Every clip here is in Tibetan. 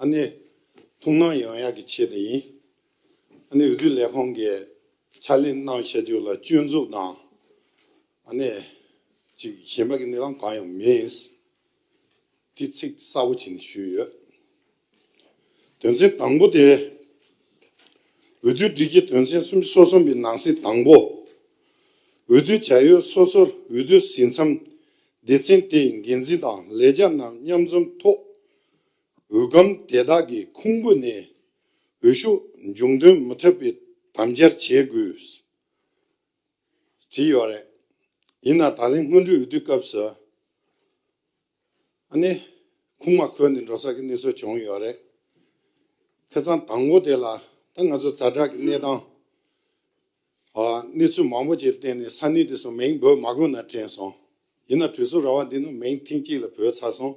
ཨ་ནེ། ཐུགས་སྣང་ཡང་ཡག་གི་ཆེད་དུ་ཡིན། ཨ་ནེ་འོས་བསྡུ་ལས་ཁང་གི་ཕྱག་ལེན་གནང་བྱ་རྒྱུ་ལ་སྐྱོན་འཛུགས་དང། ཨ་ནེ། ཅིག་གཞན་པ་གི་གནས་སྟངས་གང་ཡང་མིན། དེ་ཚིག་གསལ་བོ་བྱས་ནས་ཞུས་ཡོད། དོན་ཚན་དང་པོ་དེ། འོས་བསྡུ་སྒྲིག་གཞི་དོན་ཚན་སུམ་ཅུ་སོ་གསུམ་པའི་ནང་གསེས་དང་པོ། འོས་བསྡུ་བྱ་ཡུལ་སོ་སོར་འོས་བསྡུ་ཟིན་མཚམས་སྡེ་ཚན་དེའི་འགན་འཛིན་དང་ལས་བྱ་རྣམས་མཉམ་འཛོམས་ཐོག་འོད་སྒམ་དེ་དག་གི་ཁུང་བུ་ནས་འོད་ཤུགས་འབྱུང་དོན་མི་ཐོས་པའི་དམ་བཅར་བྱེད་དགོས། བྲིས་ཡོད་རེད། ཡིན་ནའང་ད་ལན་སྔོན་འགྲོའི་འོས་བསྡུའི་སྐབས་སུ། ཨ་ནེ། ཁུང་མ་ཁོལ་ནས་འགྲོ་ས་ཀྱི་གནས་ཚུལ་བྱུང་ཡོད་རེད། ཁེ་གཙང་དང་པོ་དེ་ལ་ད་ང་ཚོ་རྫ་བྲག་གི་གནས་སྟངས། གནས་ཚུལ་མང་པོ་ཅིག་གི་སྟེང་ནས་ས་གནས་དེ་སོགས་མིང་འབོད་མ་དགོས་ན་དྲན་སོང། ཡིན་ནའང་གྲོས་ཚོགས་ར་བ་འདི་ནང་མིང་ཐེངས་གཅིག་ལ་འབོད་ཚར་སོང།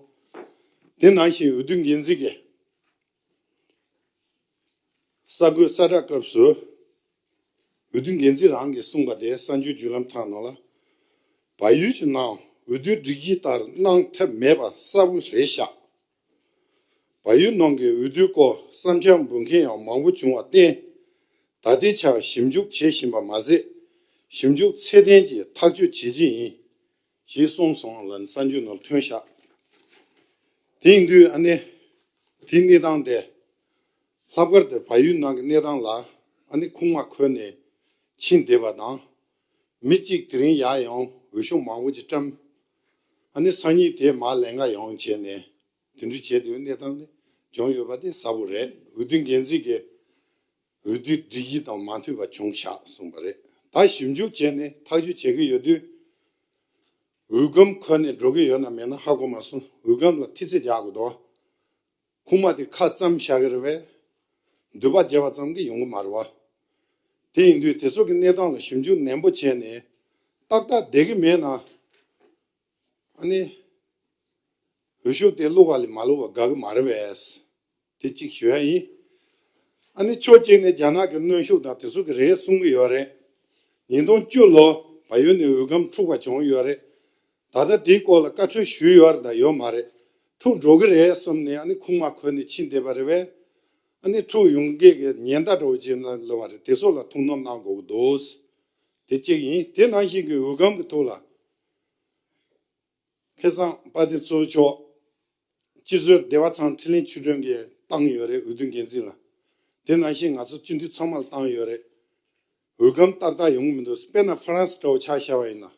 དེ་ནང་བཞིན་འོས་བསྡུ་འགན་འཛིན་གྱིས། གསར་འགོད་གསལ་བསྒྲགས་སྐབས་སུ། འོས་བསྡུ་འགན་འཛིན་རང་གིས་གསུངས་པ་དེ་གསར་འགྱུར་བརྒྱུད་ལམ་ཁག་ནང་ལ། བལ་ཡུལ་གྱི་ནང་འོས་བསྡུའི་སྒྲིག་གཞི་ལྟར་གནང་ཐབས་མེད་པ་གསལ་བོ་རེད་ཤག། བ་ཡུལ་ནང་གི་འོས་བསྡུའི་སྐོར་བསམ་འཆར་འབུལ་མཁན་ཡང་མང་བོ་བྱུང་བར་བརྟེན། ད་ལྟའི་ཆར་ཞིབ་འཇུག་བྱེད་བཞིན་པ་མ་ཟད། ཞིབ་འཇུག་ཚད་ལྡན་གྱིས་ཐག་གཅོད་བྱེད་ཀྱི་ཡིན། ཞེས་གསུངས་སོང་ལ་གསར་འགྱུར་ནང་ཐོན་ཤག་དེང་དུས་ཨ་ནེ་དེའི་གནས་སྟངས་དེ་ལྷག་དཀར་དེར་བ་ཡུལ་ནང་གི་གནས་སྟངས་ལ་ཨ་ནེ་ཁུངས་མ་འཁོལ་ནས་ཕྱིན་བསྡད་པ་དང། མི་གཅིག་དེ་རིང་ཡག་ཡང་འོས་ཤོག་མང་བོ་ཅིག་བཀྲམས། ཨ་ནི་སང་ཉིན་དེ་མ་ལས་འགའ་ཡང་བྱས་ནས་དེ་འདྲ་བྱེད་དུས་གནས་སྟངས་དེ་བྱུང་ཡོད་པ་དེ་གསལ་པོ་རེད་འོས་བསྡུ་འགན་འཛིན་གྱི་འོས་བསྡུའི་སྒྲིག་གཞི་དང་མ་མཐུན་པ་བྱུང་ཤག་གསུངས་པ་རེད་ད་ཞིབ་འཇུག་བྱས་ནས་ཐག་གཅོད་བྱེད་ཀྱི་ཡོད་དུས་འོས་སྒམ་ཁོལ་ནས་འགྲོ་གི་ཡོད་ན་མེད་ན་ཧ་གོ་མ་སོང་འོས་སྒམ་ལ་ཐི་ཚེ་རྒྱག་གི་འདུག་ཁུག་མ་དེ་ཁ་བཙམ་བྱ་གི་རེད་བས། མདུད་པ་རྒྱས་པ་ཙམ་གྱིས་ཡོང་གི་མ་རེད་བ། དེ་ཡིན་དུས་དེ་ཚོ་གི་གནས་སྟངས་ལ་ཞིབ་འཇུག་ནན་པོ་བྱས་ནས་ཏག་ཏག་བསྡད་གི་མེད་ན། ཨ་ནི། འོད་ཤུགས་དེ་བླུགས་བ་ལས་མ་བླུགས་བ་དགའ་གི་མ་རེད་བས། དེ་གཅིག་ཞུ་ཡ་ཡིན། ཨ་ནི་ཕྱོགས་གཅིག་ནས་རྒྱ་ནག་གི་གནོན་ཤུགས་དང་དེ་ཚོ་གི་རེད་གསུང་གི་ཡོད་རེད། ཉིས་སྟོང་བཅུ་ལོ་བ་ཡོལ་ནས་འོས་སྒམ་འཁྲུག་པ་བྱུང་ཡོད་རེད། ད་ལྟ་དེའི་སྐོར་ལ་བཀའ་འཁྲོལ་ཞུས་ཡོད་རེད་དང་ཡོད་མ་རེད། འཁྲུག་འགྲོ་གི་རེད་གསུམ་ནས་ཨ་ནི་ཁུངས་མ་འཁོལ་ནས་ཕྱིན་བསྡད་པ་རེད་བས། ཨ་ནི་འཁྲུག་ཡོང་སྐད་ཀྱི་ཉེན་བརྡ་འགྲོ་བ་ཅིག་ལོས་བ་རེད་དེ་ཚོ་ལ་ཐུགས་སྣང་གནང་དགོས་ཀྱི་འདུག་དེ་གཅིག་ཡིན་དེ་ནང་བཞིན་གྱི་འོས་སྒམ་གྱི་ཐུགས་ལ། ཁེ་བཟང་དཔའ་དེ་གཙོས་ཆོག་སྤྱི་གཙོས་སྡེ་བ་ཚང་ཁྲི་ལིན་ཆུས་གྲོན་གྱི་བཏང་ཡོད་རེད་འོས་བསྡུ་འགན་འཛིན་ལ། དེ་ནང་བཞིན་ང་ཚོ་སྤྱི་འཐུས་ཚང་མ་ལ་བཏང་ཡོད་རེད། འོས་སྒམ་ཏག་ཏག་ཡོང་གི་མི་འདུག་སྤེན་ན་ཧྥ་རན་སི་འདྲ་བོ་ཆགས་ཤར་བ་ཡིན་ན།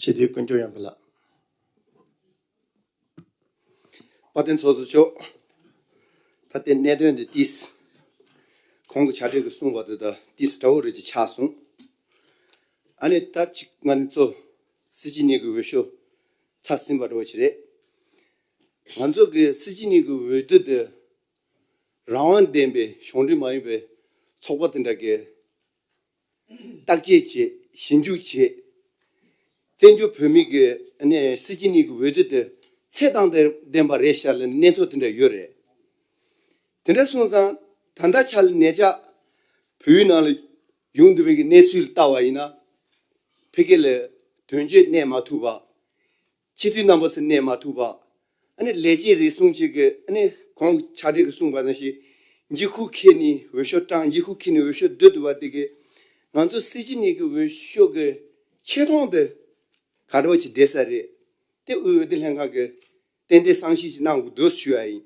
ཞི་བདེའི་ཀུན་སྤྱོད་ཡངས་པོ་ལགས། དཔའ་བརྟན་ཚོགས་གཙོ་མཆོག། ད་ལྟའི་གནད་དོན་འདི་ཏིས། གོང་གི་བྱ་བྲལ་གྱི་གསུང་བ་དེ་དག་ཏིས་དགྲ་བོ་རིགས་ཀྱི་ཆགས་གསུང། ཨ་ནི་ད་ཅིག་ང་ནི་གཙོ། སྲིད་སྤྱི་གཉིས་ཀྱི་འོས་ཤོག་ཚར་ཟིན་པ་འགྲོ་བ་ཞིག་རེད། ང་ཚོ་གི་སྲིད་སྤྱི་གཉིས་ཀྱི་འོས་བསྡུ་འདི། རང་དབང་ལྡན་པའི་གཞུང་འབྲེལ་མ་ཡིན་པའི་ཚོགས་པ་དེ་འདྲ་གིས། བརྟག་དཔྱད་བྱེད་ཞིབ་འཇུག་བྱེད། བཙན་བྱོལ་བོད་མི་གི་སྲིད་སྤྱི་གཉིས་ཀྱི་འོས་བསྡུ་དེ་ཚད་དང་ལྡན་པ་རེད་ཤག་ལ་ནི་གནད་ཐོག་དེ་འདྲ་ཡོད་རེད། དེ་འདྲ་སོང་ཙང་ད་ལྟ་ཆགས་ལ་ནས་ཆགས་བོད་ཡུལ་ནང་ལ་ཡོང་འདོད་པའི་གི་གནས་ཚུལ་ལྟ་བ་ཡིན་ན་ཕལ་སྐད་ལ་དོན་གཅོད་གནས་མ་ཐུབ་པ་ཕྱི་དུས་རྣམ་པ་སུ་གནས་མ་ཐུབ་པ། ནི་ལས་ཅན་རེ་ཟུང་གཅིག་གི། ནི་གོང་ཕྱག་འགྲེལ་གྱི་གསུངས་པ་དང་བཞི། འཇིགས་ཁུག་ཁེ་ནི་འོད་ཤོག་སྐྲངས་འཇིགས་ཁུག་ཁེ་ནི་འོད་ཤོག་རྡུལ་དུ་བ་དེ་གི། ང་ཚོ་གསེར་གྱི་ནི་གི་འོད་ཤོག་གི། ཆེ་མཐོང་དུ། ག་འདྲ་བ་ཅིག་བསྡད་ས་རེད། དེ་དབུས་འོད་སྡེར་ལྷན་ཁང་གི། རྟེན་འབྲེལ་གསང་ཞིབ་ཅིག་གནང་དགོས་འདུག་ཞུ་ཡ་ཡིན།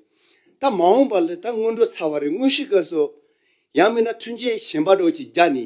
ད་མ་འོངས་པར་ལ་ད་སྔོན་འགྲོ་ཚར་བ་རེད་དངོས་གཞི་སྐབས་སུ། ཡང་མིན་ན་མཐུན་རྐྱེན་གཞན་པ་འགྲོ་ཅིག་རྒྱ་ནི།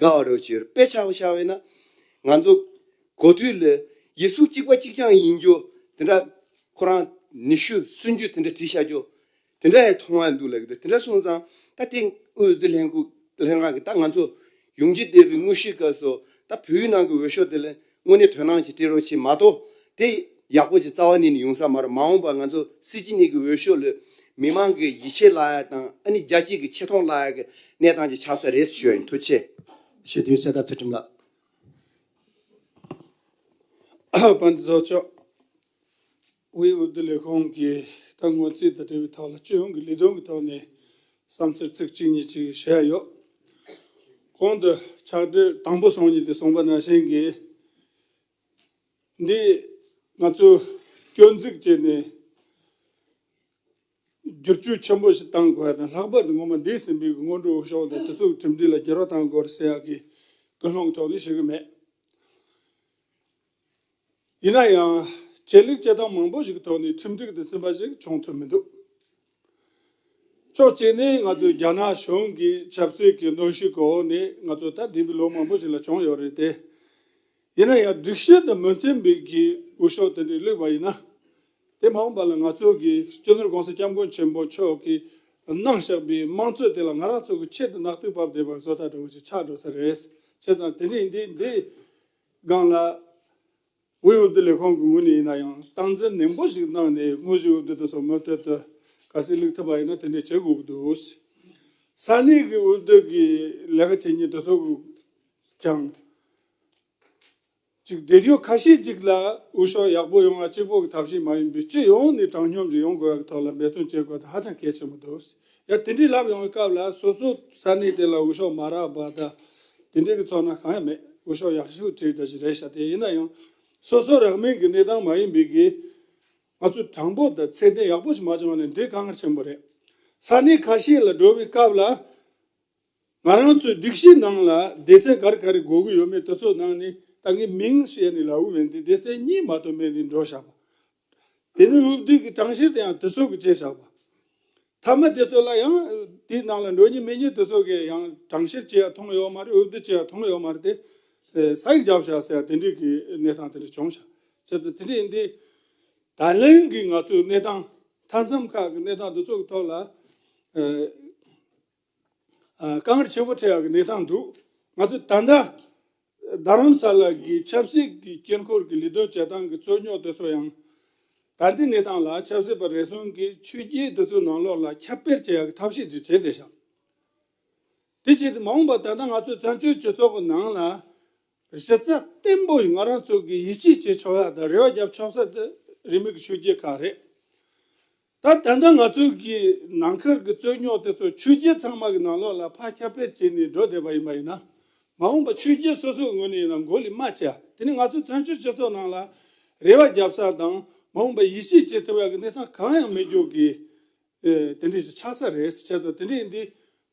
དགའ་བ་རོ་གཅེར་པད་ཆགས་པ་ཤར་བས་ན། ང་ཚོ་གོ་དུས་ལ་ཡེ་སུ་གཅིག་པ་གཅིག་རྐྱང་ཡིན་རྒྱུ་དེ་འདྲ་ཁོ་རང་ནི་ཤུ་གསོན་རྒྱུ་དེ་འདྲ་བྲིས་ཤར་རྒྱུ་དེ་འདྲ་ཡང་མཐོང་བ་འདུག་ལབ་ཀྱི་འདུག་དེ་འདྲ་སོང་ཙང་ད་ལྟའི་དབུས་བོད་ལྷན་ཁུག་ལྷན་ཁང་གི་ད་ང་ཚོ་ཡོང་རྒྱུ་བསྡད་པའི་དངོས་གཞིའི་སྐབས་སུ་ད་བོད་ཡུལ་ནང་གི་འོས་ཤོག་དེ་ལ་དངོས་གནས་དོན་སྣང་ཞིག་སྤྲད་རོགས་ཞེས་མ་གཏོགས། དེ་ཡག་པོ་ཞིག་རྩ་བ་ནས་ནི་ཡོང་ས་མ་རེད་མ་འོངས་པར་ང་ཚོ་སྲིད་སྤྱི་གཉིས་ཀྱི་འོས་ཤོག་ལས། མི་མང་གི་ཡིད་ཆེས་བརླག་ཡག་དང་ཨ་ནི་རྒྱ་སྐྱེད་ཀྱི་ཆེ་མཐོང་བརླག་ཡག་གི་གནས་སྟངས་ཅིག་ཆགས་ས་རེད་ཞོལ་མཐུ་ཆེ། ཞེ་འདོད་གསལ་བརྡ་ཚུལ་ཁྲིམས་ལགས། དཔོན་ཚོགས་མཆོག། དབུས་འོས་བསྡུ་ལས་ཁུངས་ཀྱིས་ད་སྔོན་རྩིས་ཐོ་བྲིས་པའི་ཐོག་ལ་སྤྱི་ཡོངས་ཀྱི་ལས་དོན་གྱི་ཐོག་ནས་བསམ་ཚུལ་ཚིག་གཅིག་གཉིས་གཅིག་བཤད་ཡ་ཡོད། གོང་དུ་ཕྱག་བྲིས་དང་པོ་སོང་ཉིན་དུ་གསུངས་པ་ནང་བཞིན་གྱིས། འདིས་ང་ཚོས་སྐྱོན་འཛུགས་བྱས་ནས་བསྒྱུར་བཅོས་ཆེན་པོ་ཞིག་གཏང་དགོས་པ་དང་ལྷག་པར་དུ་ངོ་མ་འདས་ཟིན་པའི་སྔོན་འགྲོའི་ཕྱོགས་ནས་དུས་ཚོད་ཁྲིམས་སྒྲིག་ལ་སྒྱུར་བ་གཏང་དགོས་རེད་ཟེར་ཡག་གི་ཀུན་སློང་ཐོག་ནས་བཤད་ཀྱི་མེད། ཡིན་ན་ཡང་ཆད་ལུས་བྱེད་སྟངས་མང་པོ་ཞིག་གི་ཐོག་ནས་ཁྲིམས་སྒྲིག་དུ་ཕྱིན་པ་ཞིག་བྱུང་ཐུབ་མི་འདུག་ཕྱོགས་གཅིག་ནས་ང་ཚོའི་རྒྱ་ནག་གཞུང་གི་ཆབ་སྲིད་ཀྱི་གནོན་ཤུགས་ཀྱི་འོག་ནས་ང་ཚོ་ད་ལྟའི་བའི་ལོ་མང་པོ་ཞིག་ལ་བྱུང་ཡོད་རེད་དེ། ཡིན་ན་ཡང་སྒྲིག་གཞི་དང་མི་མཐུན་པའི་གི་འོས་ཤོག་དེ་འདྲས་བླུས་པ་ཡིན་ན། དེ་མ་འོངས་པ་ལ་ང་ཚོ་གི་སྤྱི་ནོར ྋགོང་ས ྋསྐྱབས་མགོན་ཆེན་པོ་མཆོག་གི་གནང་བཞག་པའི་དམངས་གཙོ་དེ་ལ་ང་རང་ཚོ་གི་ཆེད་དུ་རྣག་ཐུག་བབས་བསྡད་པ་བཟོ་ལྟ་འདྲ་བོ་ཞིག་ཆགས་འགྲོ་ས་རེད། བྱས་ཙང་དེ་འདྲས་འདི་འདི། སྒང་ལ། དབུས་འོས་བསྡུ་ལས་ཁང་གི་ངོས་ནས་ཡིན་ན་ཡང་སྟངས་འཛིན་ནན་པོ་ཞིག་གནང་ནས་དངོས་གཞིའི་འོས་བསྡུ་དེ་ཚོ་མུ་མཐུད་དུ་ག་སེ་ལུགས་ཐུབ་པ་ཡིན་ན་དེ་འདྲས་བྱེད་དགོས་ཀྱི་འདུག། ས་གནས་ཀྱི་འོས་བསྡུ་གྱི་ལས་ཀ་བྱེད་མཁན་དེ་ཚོ་ཀྱང། གཅིག་འབྲེལ་ཡོད་ཁ་ཤས་ཅིག་ལ་འོས་ཤོག་ཡག་པོ་ཡོང་བ་གཅིག་པོ་གྱི་ཐབས་ཤེས་མ་ཡིན་པའི་སྤྱི་ཡོངས་ནས་དྲང་སྙོམས་ཀྱི་ཡོང་དགོས་པ་གྱི་ཐོག་ལ་འབད་བརྩོན་བྱེད་དགོས་ད་ཧ་ཅང་གལ་ཆེན་པོ་འདུག། ཡང་དེ་འདྲའི་ལབ་ཡོང་བའི་སྐབས་ལ་སོ་སོ་ས་གནས་དེ་ལ་འོས་ཤོག་མ་རག་པ་དང། དེ་འདྲའི་གི་ཚོགས་ནང་གང་ཡང་མེད་འོས་ཤོག་ཡག་ཤོས་ཁྲིད་ད་ཅི་རེད་ཤག་དེ་ཡིན་ན་ཡང། སོ་སོ་རག་མིན་གི་གནས་སྟངས་མ་ཡིན་པའི་གི། ང་ཚོས་དྲང་པོ་དང་ཚད་ལྡན་ཡག་པོ་ཞིག་མ་བྱུང་བ་ནི་འདི་དཀའ་ངལ་ཆེན་པོ་རེད། ས་གནས་ཁ་ཤས་ལ་འགྲོ་བའི་སྐབས་ལ། ང་རང་ཚོའི་སྒྲིག་གཞི་ནང་ལ་སྡེ་ཚན་ག་རེ་ག་རེ་དགོས་གི་ཡོད་མེད་དེ་ཚོ་ནང་ནས་ད་ངས་མིང་བཤད་ནས་ལ་འོས་མེད་འདི་སྡེ་ཚན་གཉིས་མ་གཏོགས་མེད་འདི་འགྲོ་ཤག་པ། དེ་ནས་འོད་དུས་ཀྱི་གྲངས་བཤེར་དེ་ཡང་དུས་ཚོད་ཀྱི་བཅད་བྱ་བ། མཐའ་མ་དེ་ཚོ་ལ་ཡང་དེའི་ནང་ལ་འགྲོ་ཉིན་མེད་ཉིན་དེ་ཚོ་གའི་ཡང་གྲངས་བཤེར་བྱེད་ཡ་ཐུང་ཡོད་མ་རེད་འོད་དུས་བྱེད་ཡ་ཐུང་ཡོད་མ་རེད་དེ། ས་ཡིག་བརྒྱབ་བྱ་ཟེར་ཡ་དེ་འདྲའི་གི་གནས་སྟངས་དེ་འདྲ་བྱུང་བྱ། བྱེད་དུ་དེ་འདྲའི་འདི། ད་ལན་གྱི་ང་ཚོའི་གནས་སྟངས་མཐའ་མཚམས་ཁག་གི་གནས་སྟངས་དེ་ཚོ་གི་ཐོག་ལ། དཀའ་ངལ་ཆེན་པོ་འཕྲད་ཡག་གནས་སྟངས་འདུག་ང་ཚོས་ད་ལྟ་རྡ་རམ་ས་ལ་གི་ཆབ་སྲིད་ཀྱི་དཀྱིལ་འཁོར་གྱི་ལས་དོན་བྱེད་སྟངས་ཀྱི་རྩོད་རྙོག་དེ་ཚོ་ཡང། ད་ལྟའི་གནས་སྟངས་ལ་ཆབ་སྲིད་པ་རེ་ཟུང་གིས་ཆོས་བརྒྱུད་དེ་ཚོའི་ནང་ལོགས་ལ་ཁྱབ་སྤེལ་བྱེད་ཡག་གི་ཐབས་ཤེས་ཅིག་བྱེད་བསྡད་ཤག། དེ་བྱས་ཏེ་མ་འོངས་པར་ད་ལྟ་ང་ཚོའི་བཙན་བྱོལ་སྤྱི་ཚོགས་ཀྱི་ནང་ལ་གཞི་རྩ་བརྟན་པོ་ཡི་ང་རང་ཚོ་གིས་ཡིད་ཆེས་བྱེད་ཆོག་ས་དང་རེ་བ་རྒྱབ་ཆོག་ས་དེ་རིས་མེད་ཀྱི་ཆོས་བརྒྱུད་ཁག་རེད། ད་ལྟ་ང་ཚོའི་གིས་ནང་ཁུལ་གྱི་རྩོད་རྙོག་དེ་ཚོ་ཆོས་བརྒྱུད་ཚང་མ་གི་ནང་ལོགས་ལ་ཕར་ཁྱབ་པེར་བྱས་ནས་འགྲོ་བསྡད་པ་ཡིན་པ་ཡིན་ན། མ་འོངས་པ་ཆོས་བརྒྱུད་སོ་སོའི་ངོས་ནས་ཡིན་ན་མགོ་ལི་མ་བྱ་དེ་ནི་ང་ཚོའི་བཙན་བྱོལ་སྤྱི་ཚོགས་ནང་ལ་རེ་བ་རྒྱབ་ས་དང་མ་འོངས་པ་ཡིད་ཆེས་བྱེད་ཐུབ་ཡག་གི་གནས་སྟངས་གང་ཡང་མེད་རྒྱུ་གི་དེ་འདྲས་ཤིག་ཆགས་ས་རེད་བྱས་ཙང་དེ་འདྲས་འདི་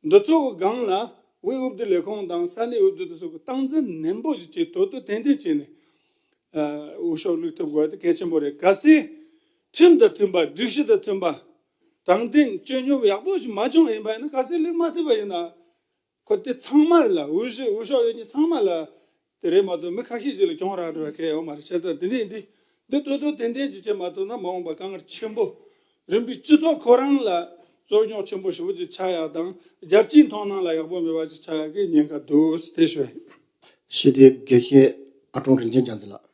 འདི་ཚོ་གི་སྒང་ལ་དབུས་འོས་བསྡུ་ལས་ཁང་དང་ས་གནས་འོས་བསྡུ་དེ་ཚོ་གི་སྟངས་འཛིན་ནན་པོ་ཞིག་བྱེད་དོ་དོ་ཏན་ཏན་བྱས་ནས་འོས་ཤོག་བླུགས་ཐུབ་དགོས་པ་དེ་གལ་ཆེན་པོ་རེད་གལ་སྲིད། ཁྲིམས་དང་མཐུན་པ་སྒྲིག་གཞི་དང་མཐུན་པ། དྲང་བདེན་བཅོས་སྙོམས་ཡག་པོ་ཞིག་མ་བྱུང་བ་ཡིན་པ་ཡིན་ན་ག་སེ་ལེགས་མ་ཐུབ་པ་ཡིན་ན། ཁོ་དེ་ཚང་མ་ལ་འོས་གཞི་འོས་ཤོག་ཡོད་ཉེས་ཚང་མ་ལ་དེ་རེད་མ་གཏོགས་མི་ཁ་ཤས་ཅིག་ལ་གྱོང་རག་འགྲོ་བ་གལ་ཡོང་མ་རེད་བྱས་ཙང་དེ་འདྲ་ཡིན་དུས་འདི་ལྟོས་ལྟོས་ཏན་ཏན་ཅིག་བྱས་མ་ཐུབ་ན་མ་འོངས་པ་དཀའ་ངལ་ཆེན་པོ་རིམ་པས་སྤྱི་ཚོགས་ཁོ་རང་ལ་རྩོད་རྙོག་ཆེན་པོ་ཞེ་བོ་ཅིག་ཆགས་ཡག་དང་རྒྱལ་སྤྱིའི་མཐོང་སྣང་ལ་ཡག་པོ་མེད་པ་ཅིག་ཆགས་ཡག་གི་ཉེན་ཁ་འདུག་དེ་ཞོད་ཡིན། ཞི་བདེའི་དགེ་བཤེས་ཨ་ཀྲོང་རིན་ཆེན་བྱམས་བརྩེ་ལགས།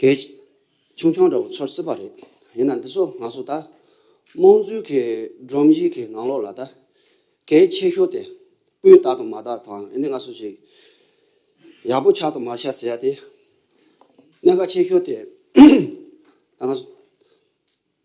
གལ། ཆུང་ཆུང་འདྲ་བོ་ཚོར་སྲིད་པ་རེད། ཡིན་ན་འདི་ཚོ་ང་ཚོ་ད་རྨོངས་ཚུལ་གྱིས་སྒྲོམ་གཞི་གི་ནང་ལོགས་ལ་ད་གལ་ཆེ་ཤོས་དེ་སྤུས་དག་དང་མ་དག་དང་ཡིན་ནི་ང་ཚོ་ཅིག་ཡག་པོ་ཆགས་དང་མ་ཆགས་ཟེར་ཡ་དེ་གནད་འགག་ཆེ་ཤོས་དེ་ད་ང་ཚོ།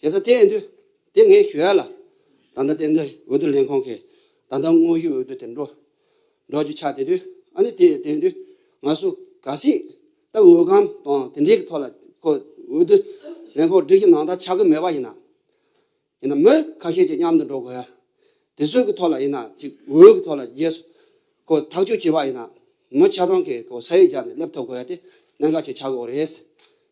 རྒྱལ་ས་གཏན་དུ་དེ་ངས་ཞུ་ཡ་ལ། ད་ལྟ་གཏན་དུ་འོས་བསྡུ་ལྷན་ཁང་གིས་ད་ལྟ་དངོས་ཡོད་འོས་བསྡུ་དེ་འགྲོ་འགྲོ་རྒྱུ་ཆགས་དེ་དུས་ཨ་ནི་དེ་གཏན་དུ་ང་སུ་ག་སྲིད་ད་འོས་སྒམ་དང་དེ་འདྲའི་གི་ཐོག་ལ་ཁོ་འོས་བསྡུ་ལྷན་ཁང་སྒྲིག་གི་ནང་ད་ཆགས་གི་མེད་པ་ཡིན་ན། ཡིན་ན་མི་ཁ་ཤས་ཀྱི་མཉམ་དུ་འགྲོ་དགོས་ཡ། དེ་ཚོའི་གི་ཐོག་ལ་ཡིན་ན་ཅིག་འོས་གི་ཐོག་ལ་རྒྱས་སུ་ཁོ་ཐག་གཅོད་བྱེད་པ་ཡིན་ན་མི་ཆ་ཚང་གི་ཁོ་ས་ཡིག་བརྒྱ་ནས་སླེབས་ཐུབ་དགོས་ཡ་དེ་གནད་འགག་ཅིག་ཆགས་དགོས་རེད།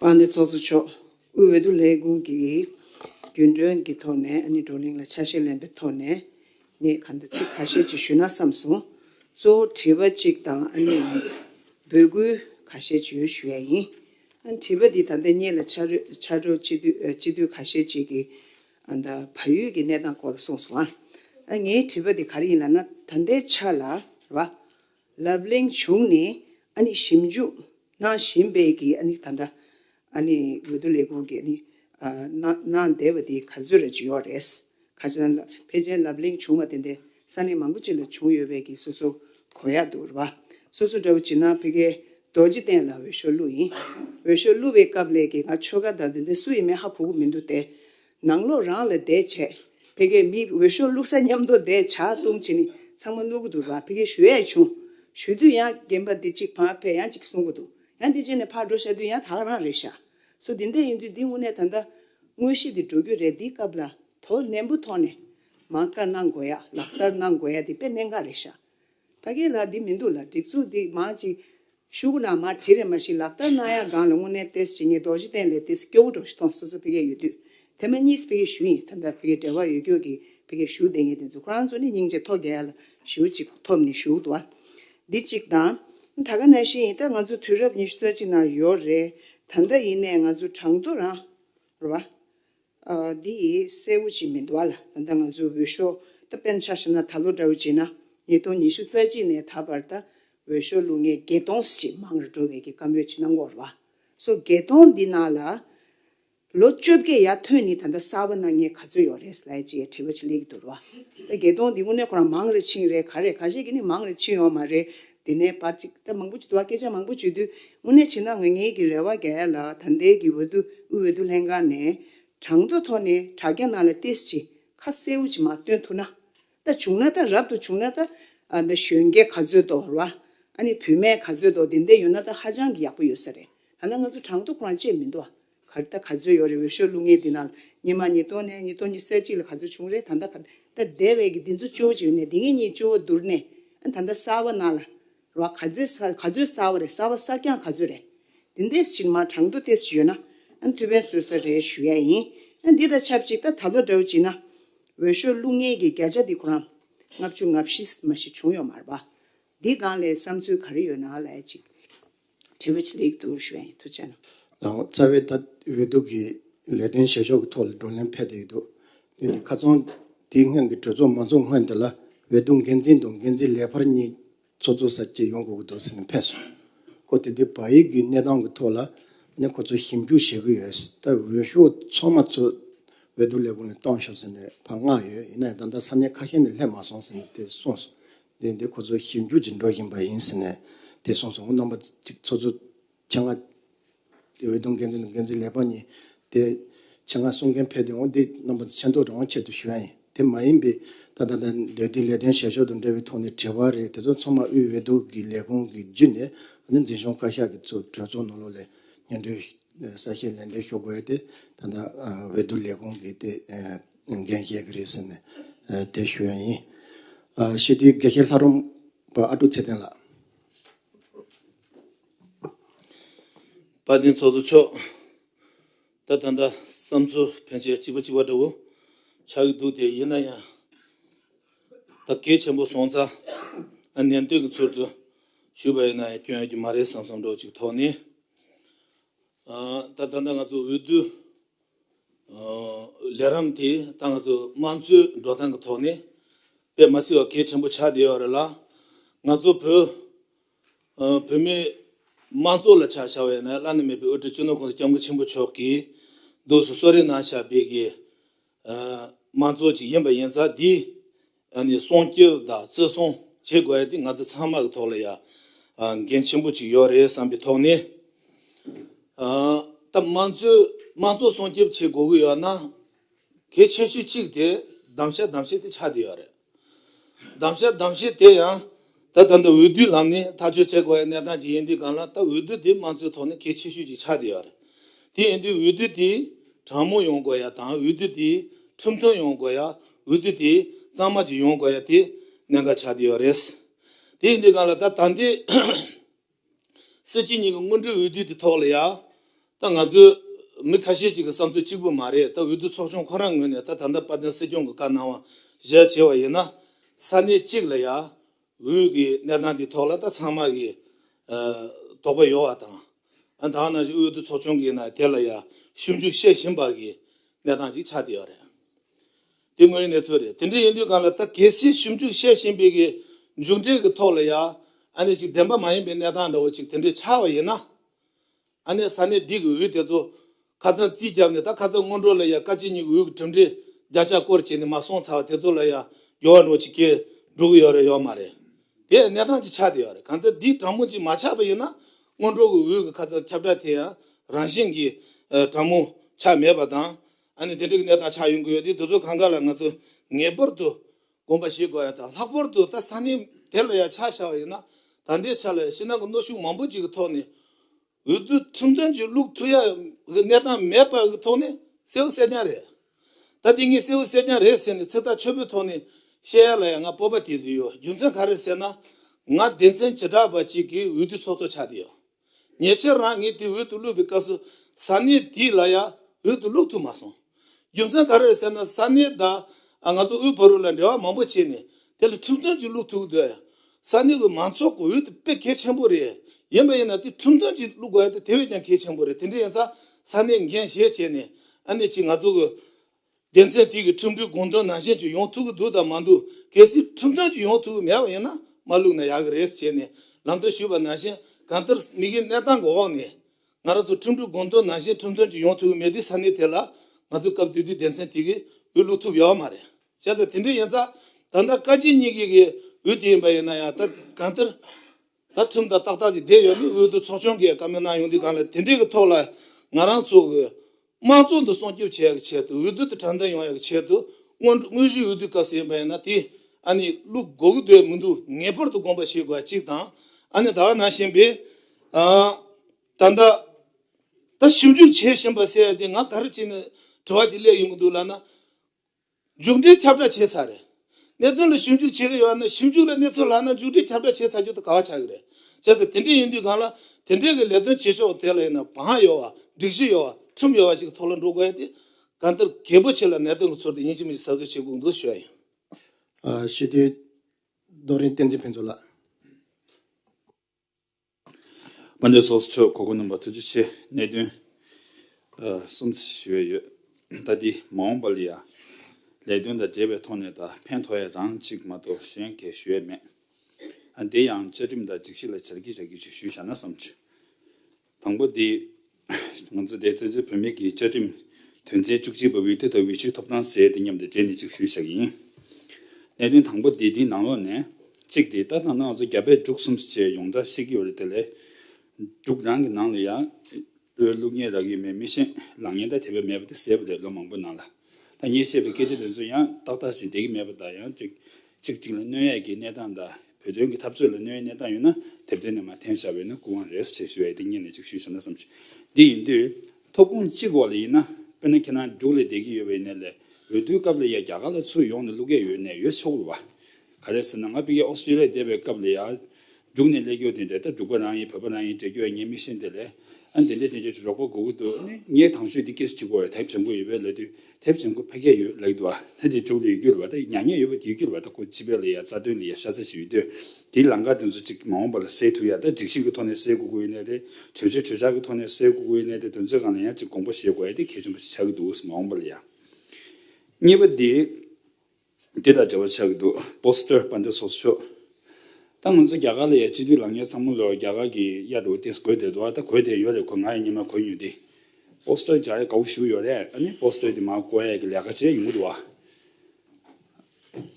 པ་ནི་ཚོགས་གཙོ་མཆོག་དབུས་འོས་བསྡུ་ལས་ཁུངས་ཀྱིས་རྒྱུན་གྲོན་གྱི་ཐོག་ནས་ཨ་ནེ་བགྲོ་གླེང་ལ་ཆ་ཤས་ལེན་པའི་ཐོག་ནས་ངས་ག་འདི་ཚིག་ཁ་ཤས་ཅིག་ཞུས་ན་བསམ་སོང། གཙོ་བོ་དྲི་བ་གཅིག་དང་ཨ་ནེ་ཡིས་འབོད་སྐུལ་ག་ཤས་ཅིག་ཡོད་ཞུ་ཡ་ཡིན། ཨ་དྲི་བ་འདི་ད་ལྟ་གཉིས་ལ་ཆ་འཕྲོད་སྤྱི་འཐུས་ག་ཤས་ཅིག་གིས་ཨ་ད་བ་ཡུལ་གྱི་གནས་སྟངས་སྐོར་ལ་གསུངས་སོང། ཨ་ངའི་དྲི་བ་འདི་ག་རེ་ཡིན་ལ་ན་ད་ལྟའི་ཆ་ལ་ར་བ། ལབ་གླེང་བྱུང་ནས་ཞིབ་འཇུག་གནང་བཞིན་པའི་ད་ལྟ་འོས་བསྡུ་ལས་ཁུངས་ཀྱི་ནང་བསྡད་པ་དེ་ག་ཚོད་རེད་ཅི་ཡོག་རེད། ཁ་ཆེ་ན་ཕལ་ཆེར་ལབ་གླེང་བྱུང་བ་དེ་འདི་ས་གནས་མང་པོ་ཅིག་ལ་བྱུང་ཡོད་པས་སོ་སོ་གོ་ཡག་འདུག་ར་སོ་སོ་འདྲ་བོ་བྱེད་ན་ཕི་ཀའི་རྡོ་རྗེ་བསྟན་ལ་འོས་ཤོག་བླུག་ཡིན་འོས་ཤོག་བླུག་པའི་སྐབས་ལས་ཀའི་ཆོལ་ཁ་དང་དེ་འདྲ་སུ་ཡིན་མིན་ཧ་གོ་གི་མི་འདུག་སྟེ། ནང་ལོག་རང་ལ་དད་བྱས། ཕལ་སྐད་མི་འོས་ཤོག་བླུག་ས་མཉམ་དོ་དད་བྱ་བཏུང་བྱས་ནི་ཚང་མ་བླུག་གི་འདུག་ར་ཕལ་སྐད་ཞུ་ཡས་བྱུང། ཞུ་དུས་ཡང་རྒན་པ་འདི་གཅིག་བག་ཕེབས་ཡང་གཅིག་གསུང་གི་འདུག་ཡང་འདི་བྱས་ནས་ཕར་འགྲོ་ཤ་དུས་ཡང་དག་རང་རེད་ཤ་སོ་འདི་འད་ཡིན་དུས་འདི་དངོས་གནས་ད་འད་དངོས་གཞི་འདི་འགྲོ་རྒྱུ་རེད་འདི་སྐབས་ལ་དོ་ནན་པོ་ཐོག་ནས་མང་དཀར་གནང་དགོས་ཡ་ལག་བསྟར་གནང་དགོས་ཡ་འདི་དཔེ་གནད་འགའ་རེད་ཤ་ཕལ་སྐད་ལ་འདི་མི་འདུག་ལ་སྒྲིག་འཛུགས་འདི་མང་གཅིག་ཤུག་ནང་མར་དྲི་རེ་མ་ཞིག་ལག་བསྟར་གནང་ཡག་སྒང་ལ་དངོས་གནས་ཏེས་བྱེད་ངེས་རྡོ་རྗེ་གདན་ལས་ཏེས་སྐྱོ་བོ་གྲོགས་ཤི་ཐོང་སོ་སོ་ཕི་གེ་ཡོད་དུས་དེ་མ་གཉིས་ཕི་གེ་ཞུ་ཡིན་ད་ལྟ་ཕི་གེ་འབྲེལ་བ་ཡོད་ཁྱོད་ཀྱིས་ཕི་གེ་ཞུ་བསྡད་ངེས་དེ་ཚོ་ཁོ་རང་ཚོ་ནི་སྙིང་རྗེ་ཐོ་རྒྱལ་ལ་ཞུ་ཅིག་ཐོབ་ནི་ཞུག་དུ་བ་འདི་གཅིག་དང། ད་ག་ན་ཤི་ཡིན་ད་ང་ཚོ་དུས་རབས་ཉི་ཤུ་རྩ་གཅིག་ནང་ཡོད་རེད་ད་ད་ཡིན་ནས་ང་ཚོ་གྲང་དུ་རང་ར་བ། འདི་ཡིས་གསལ་བོ་བྱེད་མི་འདུག་ཨ་ལ་ད་ལྟ་ང་ཚོའི་འོས་ཤོག་ད་དཔེར་ན་ཆ་བཞག་ན་ད་ལོ་དགྲ་བོ་བྱས་ན་ཉིས་སྟོང་ཉི་ཤུ་རྩ་གཅིག་ནས་ད་བར་ད་འོས་ཤོག་བླུག་མཁན་བརྒྱད་སྟོང་ཞེས་མང་རུ་འགྲོ་བས་ཀྱི་བཀའ་མོལ་བྱེད་ན་འགོར་བ་སོ་བརྒྱད་སྟོང་འདི་ནང་ལ་ལོ་བཅོ་བརྒྱད་ཡར་ཐོན་ནི་ད་ལྟ་གསར་བ་གནང་མཁན་ག་ཚོད་ཡོད་རེད་ལ་ཅེས་དྲི་བ་བྱེད་ལེགས་ཀྱི་འདུག་ར་ད་བརྒྱད་སྟོང་འདི་དངོས་གནས་ཁོ་རང་མང་རེ་ཕྱིན་རེད་ག་རེ་ག་ཞིག་གིས་ནི་མང་རེ་ཕྱིན་ཡོང་མ་རེད། དེ་ནས་བར་ཅིག་ད་མང་པོ་བྱེད་དུ་བ་སྐད་ཆ་མང་པོ་བྱེད་དུས་དངོས་གནས་བྱེད་ན་ང་ཉིད་ཀྱི་རེ་བ་རྒྱལ་ལ་ད་འདས་ཀྱི་འོད་དུ་དབུས་འོད་དུ་ལྷན་ཁང་ནས་གྲངས་ཐོ་ཐོ་ནས་དྲ་རྒྱ་ནང་ལ་ཏེས་ཅི་ཁ་གསལ་བོ་ཅིག་མ་སྟོན་ཐུ་ན་ད་བྱུང་ན་ད་རབ་ཏུ་བྱུང་ན་ད་ད་གཞོན་སྐྱེས་ག་ཚོད་དོ་ར་ཨ་ནི་བུད་མེད་ག་ཚོད་དོ་དེ་འད་ཡོད་ན་ད་ཧ་ཅང་གི་ཡག་པོ་ཡོད་ས་རེད་ད་ན་ང་ཚོ་གྲངས་ཐོ་ཁོ་རང་བཅད་མི་འདུག་བ། ག་རེད་ད་ག་ཚོད་ཡོད་རེད་འོས་ཤོག་བླུག་ངེས་འདི་ནང་ཉིན་མ་ཉིས་སྟོང་ནས་ཉིས་སྟོང་ཉི་སེར་གཅིག་ལ་ག་ཚོད་བྱུང་རེད་ད་ལྟ་ག་རེད་ད་སྡེ་བའི་གི་འདི་ཚོ་སྤྱོ་བོ་བྱེད་ནས་འདི་ངེད་གཉིས་སྤྱོ་བོ་བསྡུར་ནས་ད་ལྟ་གསར་བ་ནང་ལ་རོགས་ག་ཚོད་གསར་ག་ཚོད་གསར་བ་རེད་གསར་བ་གསར་རྐྱང་ག་ཚོད་རེད་དེ་འདས་ཕྱིར་མ་དྲང་དུ་ལྟས་ཡོད་ན་ཐུགས་ཕན་སོས་ས་རེད་ཞུ་ཡ་ཡིན་འདི་དང་ཆབས་ཅིག་ད་ད་ལོ་འདྲ་བོ་བྱིན་ན་འོས་ཤོག་བླུག་ངེས་གི་བརྒྱ་ཆ་འདི་ཁོ་རང་ལྔ་བཅུ་ང་བཞི་མ་ཞིག་བྱུང་ཡོད་མ་རེད་པ་འདི་སྒང་ལས་བསམ་ཚུལ་ག་རེ་ཡོད་ནང་ལ་ཅིག། དེ་བས་ཅི་ལེགས་འདུག་བཞིན་དུ་བྱས་ན། རྩ་བའི་ད་བའི་སྡུག་གི་ལས་དོན་བྱེད་ཕྱོགས་ཀྱི་ཐོག་ལ་བགྲོ་གླེང་ཕེབས་བསྡད་ཡོད་འདུག་དེ་ནི་ཁ་ཚོན་དེའི་སྔོན་གྱི་གྲོས་ཚོགས་མ་འཚོགས་སྔོན་དེ་ལ་བས་སྡུག་འགན་འཛིན་དང་འགན་འཛིན་ལས་འཕར་གཉིས་ཚོགས་འཚོགས་ས་སྐྱེལ་ཡོང་དགོས་ཀྱི་འདུག་ཟེར་ནས་ཕེབས་སོང། ཁོ་དེ་དུས་བ྄་ཡིག་གི་གནས་སྟངས་ཀྱི་ཐོག་ལ་ནས་ཁོ་ཚོ་ཞིབ་འཇུག་བྱེད་ཀྱི་ཡོད། ད་བའི་འོས་ཤོག་ཚོགས་མ་ཚོས་བའི་སྡུག་ལས་ཁུངས་ནས་གཏོང་ཤོག་ཟེར་ནས་བར་མངགས་ཡོད་ཡིན་ན་ཡང་ད་ལྟ་ས་གནས་ཁ་ཤས་ནས་སླེབས་མ་སོང་ཟེར་ནས་དེ་གསུངས་སོང། ལས་འདི་ཁོ་ཚོ་ཞིབ་འཇུག་ཅིག་འགྲོ་བཞིན་པ་ཡིན་ཟེར་ནས་དེ་གསུངས་སོང་ངོ་རྣམ་པ་གཅིག་ཚོགས་གཙོ་ཆ་ལྔ། འོད་སྡོང་འགན་འཛིན་དང་འགན་འཛིན་ལས་དཔོན་གཉིས། དེ་ཆ་ལྔ་གསུང་མཁན་ཕེབས་ཡོང་འདི་རྣམ་པ་མཆན་ཐོ་རང་ཆེད་དུ་ཞུ་ཡ་ཡིན་དེ་མ་ཡིན་པའི་ད་ལྟ་ལས་འདོད་དེ་ལས་དོན་བྱེད་ཕྱོགས་དང་འབྲེལ་བའི་ཐོག་ནས་དྲི་བ་རེད་དེ་ཚོ་ཚང་མ་དབུས་འོས་བསྡུ་གི་ལས་ཁུངས་ཀྱི་བརྒྱུད་ནས་ཨ་ནི་འཛིན་སྐྱོང་བཀའ་ཤག་གི་གཙོས་གྲོས་ཚོགས་ནང་ལོགས་ལས་སྙན་སྒྲོན་གསལ་བཤད་ལན་འདེབས་ཞུ་དགོས་ཡོད་དེ་ད་ལྟ་འོས་བསྡུ་ལས་ཁུངས་ཀྱི་དེ། ནམ་རྒྱུན་བཤད་ཀྱི་རེད་ཟེར་ནས་དེ་ཞུ་ཡ་ཡིན། ཞི་བདེའི་དགེ་བཤེས་ལྷ་རུང་པ་ཨ་ཀྲུག་ཚེ་བརྟན་ལགས། དཔའ་ལྡན་ཚོགས་གཙོ་མཆོག། ད་ད་འདྲ་བསམ་ཚུལ་ཕན་ཆད་གཅིག་པ་གཅིག་པ་འདྲ་བོ་ཆགས་ཀྱི་འདུག་དེ་ཡིན་ན་ཡང། ད་གལ་ཆེན་པོ་སོང་ཙང་ཨ་ནན་ཏུན་གྱི་ཚུལ་དུ་ཞུས་པ་ཡིན་ན་ཡང་སྐྱོན་ཡོད་ཀྱི་མ་རེད་བསམ་བསམ་འདྲོག་ཅིག་ཐོག་ནས། ད་ད་ལྟ་ང་ཚོ་འོས་བསྡུ། ལས་རིམ་དེ་དང་ང་ཚོའི་དམངས་གཙོའི་འགྲོ་སྟངས་ཀྱི་ཐོག་ནས་དཔེ་མ་སྲིད་པ་གལ་ཆེན་པོ་ཆགས་བསྡད་པ་རེད་ལ། ང་ཚོ་བོད་བོད་མིའི་དམངས་གཙོ་ལ་ཆ་བཞག་པ་ཡིན་ན་བླ་ན་མེད་པའི་དབུ་ཁྲིད་སྤྱི་ནོར ྋགོང་ས ྋསྐྱབས་མགོན་ཆེན་པོ་མཆོག་གིས་གདུགས་སུ་གསོལ་རས་གནང་བཞག་པའི་དམངས་གཙོ་ཅིག་ཡིན་པ་ཡིན་ཙང་འདིའི་ཡང་ནི་སྲོང་སྐྱོབ་དང་བརྩི་སྲུང་བྱེད་དགོས་ཡ་དེ་ང་ཚོ་ཚང་མ་གི་ཐོག་ལ་ཡ་འགན་ཆེན་པོ་ཅིག་ཡོད་རེད་བསམ་པའི་ཐོག་ནས་ད་དམངས་གཙོའི་དམངས་གཙོ་སྲོང་སྐྱོབ་བྱེད་དགོས་གི་ཡོད་ན་གལ་ཆེ་ཤོས་གཅིག་དེ་གདམ་བྱ་གདམ་བྱེད་དེ་ཆགས་དེ་ཡོད་རེད་གདམ་བྱ་གདམ་བྱེད་དེ་ཡང། ད་ལྟ་འདི་འོས་བསྡུའི་ལམ་ནས་ཐག་གཅོད་བྱེད་དགོས་པའི་གནས་སྟངས་ཅིག་ཡིན་དུས་གང་ལ་ད་འོས་བསྡུ་དེ་དམངས་གཙོའི་ཐོག་ནས་གལ་ཆེ་ཤོས་ཅིག་ཆགས་བསྡད་ཡོད་རེད། དེ་ཡིན་དུས་འོས་བསྡུ་དེ་དྲང་མོ་ཡོང་དགོས་ཡ་དང་འོས་བསྡུ་དེ་ཁྲིམས་མཐུན་ཡོང་དགོས་ཡ་འོས་བསྡུ་དེ་གཙང་མ་ཅིག་ཡོང་དགོས་ཡ་དེ་གནད་འགག་ཆགས་བསྡད་ཡོད་རེད། དེ་ཡིན་དུས་གང་ལ་ད་ད་ལྟའི། སྲིད་སྤྱི་གཉིས་ཀྱི་སྔོན་འགྲོའི་འོས་བསྡུའི་དེ་ཐོག་ལ་ཡ། ད་ང་ཚོའི། མི་ཁ་ཤས་ཅིག་གི་བསམ་ཚུལ་གཅིག་པུ་མ་རེད་ད་འོས་བསྡུ་ཚོགས་ཆུང་ཁོ་རང་ངོས་ནས་ད་ད་ལྟ་པ་དན་སྲིད་སྐྱོང་གི་བཀའ་གནང་བ་གཞལ་བྱས་བ་ཡིན་ན། ས་གནས་གཅིག་ལ་ཡ། འོས་ཀྱི་གནས་སྟངས་དེ་ཐོག་ལ་ད་ཚང་མ་གི། དོགས་པ་ཡོད་བ་དང། ཨ་ད་ནང་བཞིན་འོས་བསྡུ་ཚོགས་ཆུང་གི་ནང་དེ་ལ་ཡ། ཞིབ་འཇུག་བཤད་བཞིན་པ་གི་གནས་སྟངས་ཅིག་ཆགས་བསྡད་ཡོད་རེད། དེ་དངོས་གནས་ཚོད་རེད་དེ་འདྲ་ཡིན་དུས་གང་ལ་ད་གལ་སྲིད་ཞིབ་འཇུག་བཤད་བཞིན་པའི་གི་མཇུག་འབྲས་ཀྱི་ཐོག་ལ་ཡ་ཨ་ནས་ཅིག་བདེན་པ་མ་ཡིན་པའི་གནས་སྟངས་འདྲ་བོ་ཅིག་དེ་འདྲས་ཆགས་བ་ཡིན་ན་ཨ་ནས་ས་གནས་འདི་གི་འུད་དེ་ཚོ་ཁ་ཚང་རྩིས་བརྒྱབ་ནས་ད་ཁ་ཚང་སྔོན་འགྲོ་ལ་ཡ་བཀའ་སྤྱི་གཉིས་ཀྱི་འུད་ཀྱི་གྲུབ་འབྲས་བརྒྱ་ཆ་སྐོར་བྱས་ནས་མ་སོང་ཚར་བ་དེ་ཚོ་ལ་ཡ་ཡོ་བ་འགྲོ་བ་ཅིག་སྐྱེ་འགྲོ་གི་ཡོད་རེད་ཡོད་མ་རེད་དེ་གནས་སྟངས་ཅིག་ཆགས་དེ་ཡོད་རེད་གང་ལྟར་འདིའི་དྲང་མོ་ཅིག་མ་ཆགས་པ་ཡིན་ན་སྔོན་འགྲོ་གི་འུད་ཀྱི་ཁ་ཚང་ཁྱབ་བསྒྲགས་དེ་ཡང་རང་བཞིན་གྱིས་དྲང་མོ་ཆགས་མེད་པ་དང་ཨ་ནི་དེ་འདྲ་གི་གནས་སྟངས་ཆགས་ཡོང་གི་ཡོད་དེ་དེ་ཚོ་གང་ག་ལ་ང་ཚོས་ངེས་པར་དུ་དགོངས་པ་བཞེས་དགོས་ཡ་དང་ལྷག་པར་དུ་ད་ས་གནས་དེ་ལ་ཡང་ཆགས་བཞག་ཡིན་ན་ད་ལྟའི་ཆ་ལ་ཡང་ཕྱི་ནང་གི་གནོད་ཤུགས་མང་པོ་ཅིག་གི་ཐོག་ནས་འོས་བསྡུ་ཁྲིམས་དོན་གྱི་ལུགས་མཐུན་ཡ་གི་གནས་སྟངས་མེད་པ་གི་ཐོག་ནས་གསལ་བོ་གསལ་རྐྱང་རེད། ད་དེ་ངས་གསལ་བོ་གསལ་རྐྱང་རེད་ཟེར་ནས་ཚིག་ཐག་ཆོད་པོའི་ཐོག་ནས་བཤད་ཡ་ལ་ཡང་ང་སྤོབས་པ་དེ་ཚོད་ཡོད་རྒྱུ་མཚན་ག་རེ་ཟེར་ན་ང་སྡེ་ཚན་བྱེ་བྲག་པ་ཅིག་གི་འོས་བསྡུ་ཚོགས་གཙོ་ཆགས་དེ་ཡོད། ཉེ་ཆར་རང་ངས་དེ་འོད་དུ་བླུགས་པའི་སྐབས་སུ་ས་གནས་དེ་ལ་ཡང་འོད་དུ་བླུགས་ཐུབ་མ་སོང། རྒྱུ་མཚན་ག་རེ་རེད་ཟེར་ན་ས་གནས་དག་ང་ཚོ་དབུས་བོད་རུ་ལ་འབྲེལ་བ་མང་པོ་བྱས་ནས་དེ་ལ་ཁྲིམས་དོན་ཅིག་བླུགས་ཐུབ་དགོས། ས་གནས་བའི་མང་ཚོགས་ཀྱི་འོད་དེ་དཔེ་གལ་ཆེན་པོ་རེད། ཡིན་པ་ཡིན་ན་དེ་ཁྲིམས་དོན་ཅིག་བླུགས་དགོས་ཡ་དེ་དེ་བས་ཀྱང་གལ་ཆེན་པོ་རེད་དེ་འདྲ་ཡིན་ཚ་ས་གནས་འགན་བཞེས་བྱས་ནས་ཨ་ནེ་ཅིག་ང་ཚོ་གི་སྡེ་ཚན་དེ་གི་ཁྲིམས་སྒྲིག་དགོངས་དོན་ནང་བཞིན་གྱི་ཡོང་ཐུབ་ཀྱི་འདུག་དང་མ་འདུག་གལ་སྲིད་ཁྲིམས་དོན་གྱི་ཡོང་ཐུབ་ཀྱི་མེད་པ་ཡིན་ན་མ་བླུགས་ན་ཡག་གི་རེད་ཟེར་ནས་ལམ་སྟོན་ཞུས་པ་ནང་བཞིན་གང་ལྟར་མི་ཡི་གནས་སྟངས་གི་འོག་ནས་ང་རང་ཚོ་ཁྲིམས་སྒྲིག་དགོངས་དོན་ནང་བཞིན་ཁྲིམས་དོན་གྱི་ཡོང་ཐུབ་ཀྱི་མེད་དུས་ས་གནས་དེ་ལ་ང་ཚོས་སྐབས་དུས་དུས་སྡེ་ཚན་དེ་གི་འོས་བླུགས་ཐུབ་ཡོད་མ་རེད་བྱས་ཙང་དེ་འདྲ་ཡིན་ཙང་ད་ལྟ་བཀའ་སྤྱི་གཉིས་ཀྱི་གི་འོས་དེ་ཡིན་པ་ཡིན་ན་ཡང་ད་གང་ལྟར། ད་ཁྲིམས་དང་ཏག་ཏག་གི་བསྡད་ཡོད་མེད་འོས་བསྡུ་ཚོགས་ཆུང་གིས་བཀའ་མོལ་གནང་ཡོང་དུས་གང་ལེགས་དེ་འདྲའི་གི་ཐོག་ལ་ང་རང་ཚོ་གི་དམངས་གཙོ་འདི་སྲུང་སྐྱོབ་བྱེད་ཡག་གི་ཆེད་དུ་འོས་བསྡུ་དེ་དྲང་བདེན་ཡོང་ཡག་གི་ཆེད་དུ་དངོས་དངོས་གཞིའི་འོས་བསྡུའི་སྐབས་ཡིན་པ་ཡིན་ན་དེ་ཨ་ནི་བླུག་དགོས་གི་འདོད་མི་འདུག་ངེས་པར་དུ་དགོངས་པ་བཞེས་དགོས་པ་གཅིག་དང་ཨ་ནི་ད་བར་གནང་བཞིན་པའི་ད་ལྟ་ད་ཞིབ་འཇུག་བྱེད་བཞིན་པ་ཟེར་ཡ་དེ་ང་ག་རེ་བྱས་ནས་དྲི་བ་ཅིག་སླེབས་ཡོང་གི་འདུག་ལབ་ན། མཇུག་འབྲས་ཁྱབ་བསྒྲགས་བྱས་ཚར་རེད། གནད་དོན་ལ་ཞིབ་འཇུག་བྱེད་གི་ཡོད་ན་ཞིབ་འཇུག་ལ་གནས་ཚུལ་ལགས་ན་མཇུག་འབྲས་ཁྱབ་བསྒྲགས་བྱས་ཚར་རྒྱུ་དེ་ག་བ་ཆགས་གི་རེད། བྱས་ཚར་དེ་འདྲས་ཡིན་དུས་གང་ལ་དེ་འདྲས་གི་ལས་དོན་བྱེད་ཆོག་དེ་ལ་ཡིན་ན་བག་ཡོད་བ་སྒྲིག་གཞི་ཡོད་བ་ཁྲིམས་ཡོད་བ་ཞིག་གི་ཐོག་ལ་འགྲོ་དགོས་ཡ་དེ་གང་ལྟར་གལ་པོ་ཆེ་ལ་གནད་དོན་གི་ཚོར་དེ་ཡིན་གཅིག་མིན་གཅིག་གཟབ་གཟབ་བྱེད་དགོས་འདུག་ཞུ་ཡ་ཡིན། ཞི་བདེའི་རྡོ་རིང་བསྟན་འཛིན་ཕུན་ཚོགས་ལགས། དཔལ་འབྱོར་སོགས་ཕྱོགས་གོ་དགུ་རྣམ་པར་དོན་གྱི་ཆེད་གནད་དོན་གསུམ་ཞུ་བས་ཡོད། ལྟ་དེ་མ་འོངས་པ་ལ་ཡང་ལས་དོན་དང་འབྲེལ་བའི་ཐོག་ནས་ད་ཕན་ཐོ་ཡ་རང་གཅིག་མ་གཏོགས་གཞན་གས་ཞུ་ཡས་མེད། དེ་ཡང་བཅའ་ཁྲིམས་དང་སྒྲིག་གཞི་ལ་ཞལ་གྱིས་བཞག་གི་ཞིག་ཞུས་བཞག་ན་བསམ། དང་པོ་དེ། ང་ཚོ་དེ་བཙན་བྱོལ་བོད་མིའི་གི་བཅའ་ཁྲིམས་དོན་ཚན་བཅུ་གཅིག་པ་འོས་བསྡུ་དང་འོས་གཞིའི་ཐོབ་ཐང་ཟེར་དེ་མཉམ་དུ་འདྲེས་ནས་ཅིག་ཞུས་ཤག་ཡིན། གནད་དོན་དང་པོ་དེ་དེའི་ནང་ལོགས་ནས། གཅིག་དེ་ལྟ་སྟངས་ནང་ང་ཚོ་རྒྱ་བལ་འབྲུག་གསུམ་བཅས་ཡོངས་གྲགས་ཤེས་ཀྱི་ཡོད་རེད་དེ་ལས། འབྲུག་རང་གི་ནང་ལ་ཡང། བོད་ཀླུ་རྒན་རག་ཡོད་མེད་མི་ཤེས་ལང་ཉེན་བརྡ་དེ་བས་མེད་པ་དེ་གསལ་པོ་རེད་ལོ་མང་པོའི་ནང་ལ། ཐ་སྙད་བཤད་པའི་སྐད་ཆ་དེ་ཚོ་ཡང་ཏག་ཏག་ཅིག་བསྡད་ཀྱི་མེད་པ་དང་ཡང་ཅིག་ཚིག་གཅིག་ལ་གནོད་ཡས་ཀྱི་གནས་སྟངས་དང་བོད་དོན་གྱི་འཐབ་རྩོད་ལ་གནོད་ཡས་གནས་སྟངས་ཡོད་ན་དེབ་དེ་ནས་མ་འཐེན་བྱ་བའི་ན་སྐུ་དབང་རེས་བྱེད་ཞུ་ཡས་ཏེ་གཉིས་ནས་གཅིག་ཞུས་བྱ་ན་བསམ་ཞིག་འདི་ཡིན་དུས། ཐོབ་ཁུངས་གཅིག་འོག་ལ་ཡིན་ན་དཔེར་ན་ཁྱེད་རང་རྒྱུགས་ལས་བསྡད་ཀྱི་ཡོད་པ་ཡིན་ན་ལས་འོས་བསྡུའི་སྐབས་ལ་ཡ་རྒྱ་གར་ལ་ཚུར་ཡོང་ནས་གླུ་སྐད་ཡོད་ནས་ཡོད་ཆོག་གི་རེད་བ། ག་རེ་ཟེར་ན་ང་པི་ཀའི་ཨོ་སི་ཀྲི་ལ་བསྡད་པའི་སྐབས་ལ་ཡ། རྒྱུགས་ནས་ལས་ཀྱོ་དེ་འདྲ་ད་འབྲུག་པ་རང་ཡིན་བོད་པ་རང་ཡིན་འདྲེ་ཀྱོ་ངས་མི་ཤེས་འདི་ལས་ཨ་འདི་འདྲ་དེ་འདྲ་རོགས་པ་དགོས་ཀྱི་འདུག་ནས་ངས་དང་ཆོས་འདི་ཀེས་བྲིས་གོ་དེབ་བྱང་གོ་ཡོད་པའི་ལས་དུས་དེབ་བྱང་གོ་ཕ་སྐད་ཡོད་ལགས་འདུག་ད་འདི་འབྲུག་ལ་ཡུལ་གྱོ་ལ་བ་ད་མྱ་ངན་ཡོད་པ་ཡུལ་གྱོ་ལ་བ་ད་གོ་སྤྱི་པའི་ལ་ཡ་རྩ་དོན་ལ་ཡ་ཤ་ཚ་ཞིག་ཡོད་དུས་དེའི་ལང་ཀ་དེ་ཚོ་ཅིག་མ་འོངས་པ་ལ་གསལ་ཐུབ་ཡ་ད་སྒྲིག་གཞི་གི་ཐོག་ནས་གསལ་གོ་གོ་ཡོད་ལས་དེ་གྲོས་ཆོད་གྲོས་འཆར་གི་ཐོག་ནས་གསལ་གོ་གོ་ཡོད་ལས་དེ་དོན་ཚོད་གང་ལ་ཡང་ཅིག་དགོངས་པ་བཞེས་གོ་ཡ་དེ་གལ་ཆུང་པ་ཞིག་ཆགས་ཀྱི་འདུག་མ་འོངས་པ་ལ་ཡ། གཉིས་པ་འདི། འདི་དང་འབྲེལ་བ་ཆགས་ཀྱི་འདུག Poster དཔར་འདེབས་སོགས་སུ་ཤོག། ད་ང་ཚོ་རྒྱ་གར་ལ་ཡ་སྤྱི་འཐུས་ལགས་ཉེ་ཚང་མ་ལོ་རྒྱ་གར་གྱི་གཡག་འབྲུག་སྟེང་སུ་གོས་དེད་འདུག་ད་གོས་དེད་ཡོད་རེད་གོས་ང་ཡང་ཉི་མ་གོས་ཉོས་ཏེ Poster སྦྱར་ཡ་ག་བོ་ཞུ་ཡོད་རེད་ཨ་ནི Poster དེ་མ་བཀོལ་ཡ་གི་ལས་ཀ་བྱེད་ཡོང་གི་འདུག་བ།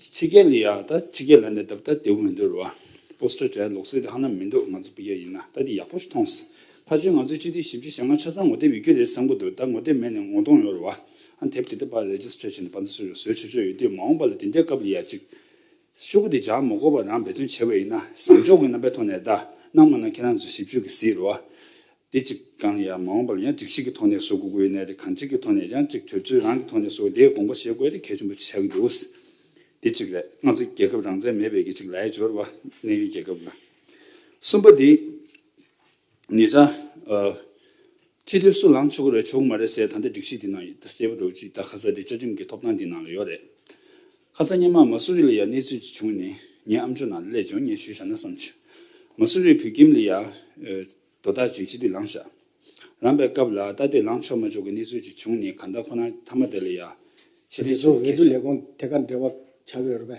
ཕྱི་རྒྱལ་ལ་ཡ་ད་ཕྱི་རྒྱལ་ལ་ནས་ད་བུ་ད་དེ་བུ་མི་འདུག་རེད་བ། Poster སྦྱར་ཡ་ལོག་སྲིད་དེ་ཧ་ན་མི་འདུག་ང་ཚོ་ཕི་རྒྱལ་ཡིན་ན་ད་དེ་ཡག་པོ་ཞིག་མཐོང་སོང། ཕར་ཆེར་ང་ཚོའི་སྤྱི་འཐུས་ཞིབ་ཕྱི་ཞེ་ལྔ་ཆ་ཚང་ངོ་དེབ་ཡོད་ཀྱི་རེད་བསམ་གི་འདུག་ད་ངོ་དེབ་མེད་ནས་ངོ་གདོང་ཡོད་རེད་བ། དེབ་དེ་ད་བར་རེཇིསྟར་བྱས་ནས་བར་འཛུལ་བཟོས་བྱས་ཆོག་ཡོད་དུས་མ་འོངས་པ་ལ་དེ་འདྲའི་སྐབས་ཡོད་ཡ་གཅིག། ཤོག་བུ་དེ་སྦྱར་མ་དགོས་པར་རང་འབད་བརྩོན་བྱས་པ་ཡིན་ན་བཟང་ཕྱོགས་ཀྱི་རྣམ་པའི་ཐོག་ནས་བརྡ་གནང་མ་གནང་ཁྱེད་རང་ཚོས་ཞིབ་དཔྱོད་ཀྱིས་གཟིགས་རོགས། དེ་གཅིག་གང་ལ་ཡང་མ་འོངས་པ་ལ་ཡང་སྒྲིག་གཞི་གི་ཐོག་ནས་བཟོ་དགོས་དགོས་ཡོད་ནའི་རེད་གང་ཅིག་གི་ཐོག་ནས་ཡང་གཅིག་དོལ་ཚོའི་རང་གི་ཐོག་ནས་བཟོ་དེའི་དགོངས་པ་བཞེས་དགོས་དེ་གལ་ཆེན་པོ་ཆགས་ཀྱི་འདུག་དེ་གཅིག་རེད་ང་ཚོ་རྒྱལ་ཁབ་རང་བཙན་མེད་པའི་གི་གཅིག་ལའི་སྦྱོར་བ་གནས་ཡུལ་རྒྱལ་ཁབ་ལ། གསུམ་པ་དེ། ངེད་ཅག་ཨོ། ཁྱེད་དུས་སུ་ལངས་ཆོག་གི་རེད་ཆོག་གི་མ་རེད་ཟེར་ད་ལྟའི་སྒྲིག་གཞི་འདི་ནང་ཡོད་ཟེར་བ་འདྲ་བོ་ཅིག་ད་ཁ་ཚ་དེ་བཅའ་ཁྲིམས་ཀྱི་ཐོབ་ཐང་འདི་ནང་ལ་ཡོད་རེད། ཁ་ཚ་སྙན་མ་མ་སུ་རི་ལ་ཡ་གནས་ཚུལ་ཅིག་བྱུང་ནས་ངའི་ཨམ་ཆུ་ནང་ལ་ལས་བྱུང་སྙན་ཞུ་བཞག་ན་བསམ་བྱོས། མ་སུ་རི་བོད་ཁྱིམ་ལ་ཡ། དོ་བདག་ཅིག་སྤྱི་འཐུས་ལངས་བཞག་ལངས་པའི་སྐབས་ལ་ད་ལྟའི་ལངས་ཆོག་མ་ཆོག་གི་གནས་ཚུལ་ཅིག་བྱུང་ནས་ག་ད་ཁོ་ན་ཐ་མ་དེ་ལ་ཡ། ཆེད་ལས་ཅིག་ལ་ཁེལ་བྱས།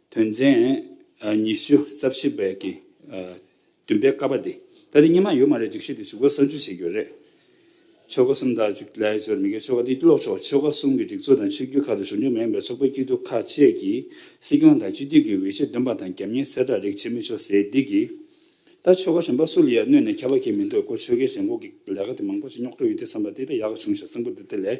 དོན་ཚན་ཉི་ཤུ་རྩ་བཞི་པའི་གི་བདུན་པའི་ཀ་པ་དེ་ད་དེ་གཉིས་མ་ཡོད་མ་རེད་སྒྲིག་གཞི་དེ་བཞུགས་སྒར་གསར་འཇུག་བྱེད་རྒྱུ་རེད། ཆོལ་ཁ་གསུམ་དང་གཅིག་ལས་ཅོར་མི་དགོས་ཆོལ་ཁ་དེ་ཀློག་ཆོག་ཆོལ་ཁ་གསུམ་གི་སྒྲིག་འཛུགས་དང་ཆོས་བརྒྱུད་ཁག་དང་གཞུང་འབྲེལ་མ་ཡིན་པའི་ཚོགས་པའི་སྐྱིད་སྡུག་ཁ་ཆད་ཀྱི་སྲིད་སྐྱོང་དང་སྤྱི་འཐུས་ཀྱི་འོས་ཆོས་འདོན་པ་དང་རྒྱབ་གཉེར་གསལ་བསྒྲགས་རིགས་བྱེད་མི་ཆོག་ཟེར་དུས་ཀྱི་ད་ཆོལ་ཁ་གཞོན་པ་སུ་ལ་ཡང་གནོད་ནས་ཁ་བ་གས་མི་འདུག་ཁོ་ཆོལ་ཁའི་ཞེན་ཁོག་གི་ལས་ཀ་དེ་མང་པོ་ཞིག་རྙོག་དྲ་ཡོད་དུས་བསམ་པ་དེ་འདྲ་ཡག་ག་བྱུང་ཞེས་གསུངས་པོ་འདི་དེ་ལས།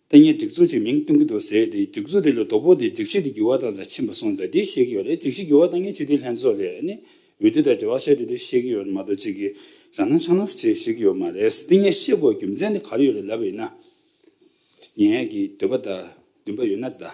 ལྟས་ངན་སྒྲིག་འཛུགས་ཅིག་མིང་བཏོན་གྱི་འདུག་ཟེར་དེ་སྒྲིག་འཛུགས་དེ་ལ་དོ་ཕོག་དེ་སྒྲིག་གཞི་དེ་འགྱུར་བ་དང་ཟེར་ཕྱིན་པ་སོང་ཙང་དེ་ཤེས་ཀྱི་ཡོད་རེད་སྒྲིག་གཞི་འགྱུར་བ་དང་ངས་སྤྱི་འཐུས་ལྷན་ཚོགས་ལས་ནས་འོས་བསྡུ་དང་འབྲེལ་བ་བྱས་ཏེ་དེ་ཤེས་ཀྱི་ཡོད་མ་གཏོགས་ཅིག་གིས་རང་སྣང་ཆགས་སྣང་བྱེད་ཤེས་ཀྱི་ཡོད་མ་རེད་དེ་ངས་ཤེས་དགོས་རྒྱུ་མཚན་དེ་ག་རེ་ཡོད་རེད་ལབ་ཡོད་ན། ངས་ཀྱི་འདོད་པ་དང་འདུན་པ་ཡོད་ན་གདའ།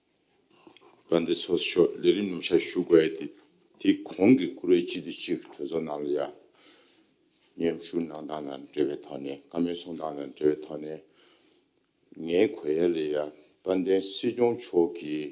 བཀའ་འདི་ཚོགས་ཆོག་ལས་རིམ་ནམ་ཤར་ཞུ་དགོས་ཏེ། དེ་གོང་གི་བཀུར་འོས་སྤྱི་འཐུས་གཅིག་གྲོས་ཚོགས་ནང་ལ་ཡང་མཉམ་ཞུགས་གནང་སྟངས་དང་འབྲེལ་བའི་ཐོག་ནས་བཀའ་མོལ་གསུང་སྟངས་དང་འབྲེལ་བའི་ཐོག་ནས། ངའི་གོ་ཡ་ལས་ཡང་དཔལ་ལྡན་སྲིད་སྐྱོང་མཆོག་གིས།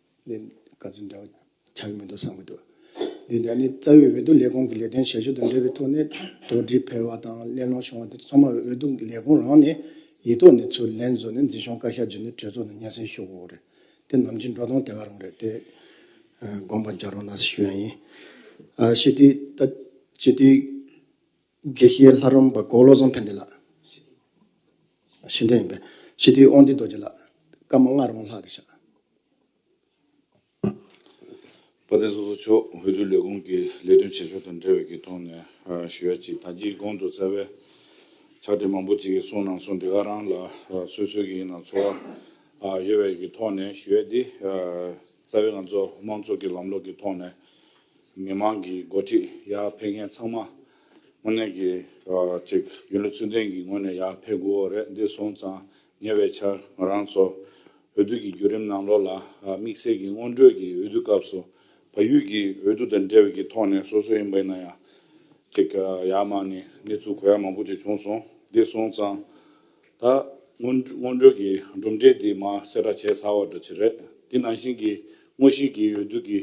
ལས་ག་ཚོད་འདྲ་བ་ཆགས་ཀྱི་མི་འདུག་བསམ་གྱི་འདུག་འདི་འདྲ་ནི་རྩ་བའི་འོས་བསྡུ་ལས་ཁུངས་ཀྱི་ལས་དོན་བྱ་གཞི་དང་འབྲེལ་བའི་ཐོག་ནས་དོགས་འདྲི་ཕེར་བ་དང་གླེང་སློང་བྱུང་བ་དེ་ཚང་མ་འོས་བསྡུ་ལས་ཁུངས་རང་ནས་ཡིག་ཐོག་ནས་ཚུར་ལན་བཟོ་ནས་འཛིན་སྐྱོང་བཀའ་ཤག་བརྒྱུད་ནས་གྲོས་ཚོགས་ནང་སྙན་སེང་ཞུ་དགོས་རེད་དེ་ནམ་རྒྱུན་འགྲོ་སྟངས་དེ་ག་རང་རེད་དེ་དགོངས་པ་རྒྱག་རོགས་གནང་ཞེས་ཞུ་ཡ་ཡིན། ཞི་བདེའི། དགེ་བཤེས་ལྷ་རམས་པ་མགོ་བློ་བཟང་ཕན་བདེ་ལགས། ཤིང་སྡོང་ཡིན་པས། ཞི་བདེའི་དབང་སྡུད་རྡོ་རྗེ་ལགས། བཀའ་མ་ལྔ་རོང་ལྷག་གི་ཞག། བ་དན་སོ་སོ་མཆོག་འོས་བསྡུ་ལས་ཁུངས་ཀྱི་ལས་དོན་བྱེད་ཕྱོགས་དང་འབྲེལ་བའི་ཐོག་ནས་ཞུ་ཡ་གཅིག་ད་ཅིའི་གོང་དུ་རྩ་བའི་ཕྱག་དྲིལ་མང་པོ་གཅིག་གསུང་གནང་སོང་དེ་ག་རང་ལ་སོས་སོས་ཀྱི་ཡིན་ན་ཚོར་བ་ཡོད་བའི་ཐོག་ནས་ཞུ་ཡ་འདི་རྩ་བའི་ང་ཚོ་དམངས་གཙོ་གི་ལམ་ལུགས་ཀྱི་ཐོག་ནས་མི་དམངས་ཀྱི་འགོ་ཁྲིད་ཡར་འཕེལ་མཁན་ཚང་མ་དངོས་གནས་ཀྱི་ཅིག་ཡིན་ལུགས་ཚུལ་ལྡན་གྱི་ངོས་ནས་ཡར་འཕེལ་དགོས་འོ་རེད་འདི་སོང་ཙང་ཉེ་བའི་ཆར་ང་རང་ཚོ་འོས་བསྡུ་གྱི་བརྒྱུད་རིམ་ནང་ལོགས་ལ་དམིགས་བསལ་གྱི་སྔོན་འགྲོས་ཀྱི་འོས་བསྡུ་སྐབས་སུ་བལ་ཡུལ་གྱི་འོས་བསྡུ་དང་འབྲེལ་བའི་ཀྱི་ཐོག་ནས་སོ་སོ་ཡིན་པ་ཡིན་ན་ཡང་ཅིག་ཡར་མར་ནས་གནས་ཚུལ་གོ་ཡ་མང་པོ་ཅིག་བྱུང་སོང་འདི་སོང་ཙང་ད་སྔོན་སྔོན་འགྲོས་ཀྱི་གྲུབ་འབྲས་དེ་མ་སེར་ར་བྱས་ཚར་བ་འདྲ་ཅི་རེད། དེ་ནང་བཞིན་གྱི་དངོས་གཞིའི་གི་འོས་བསྡུ་གི་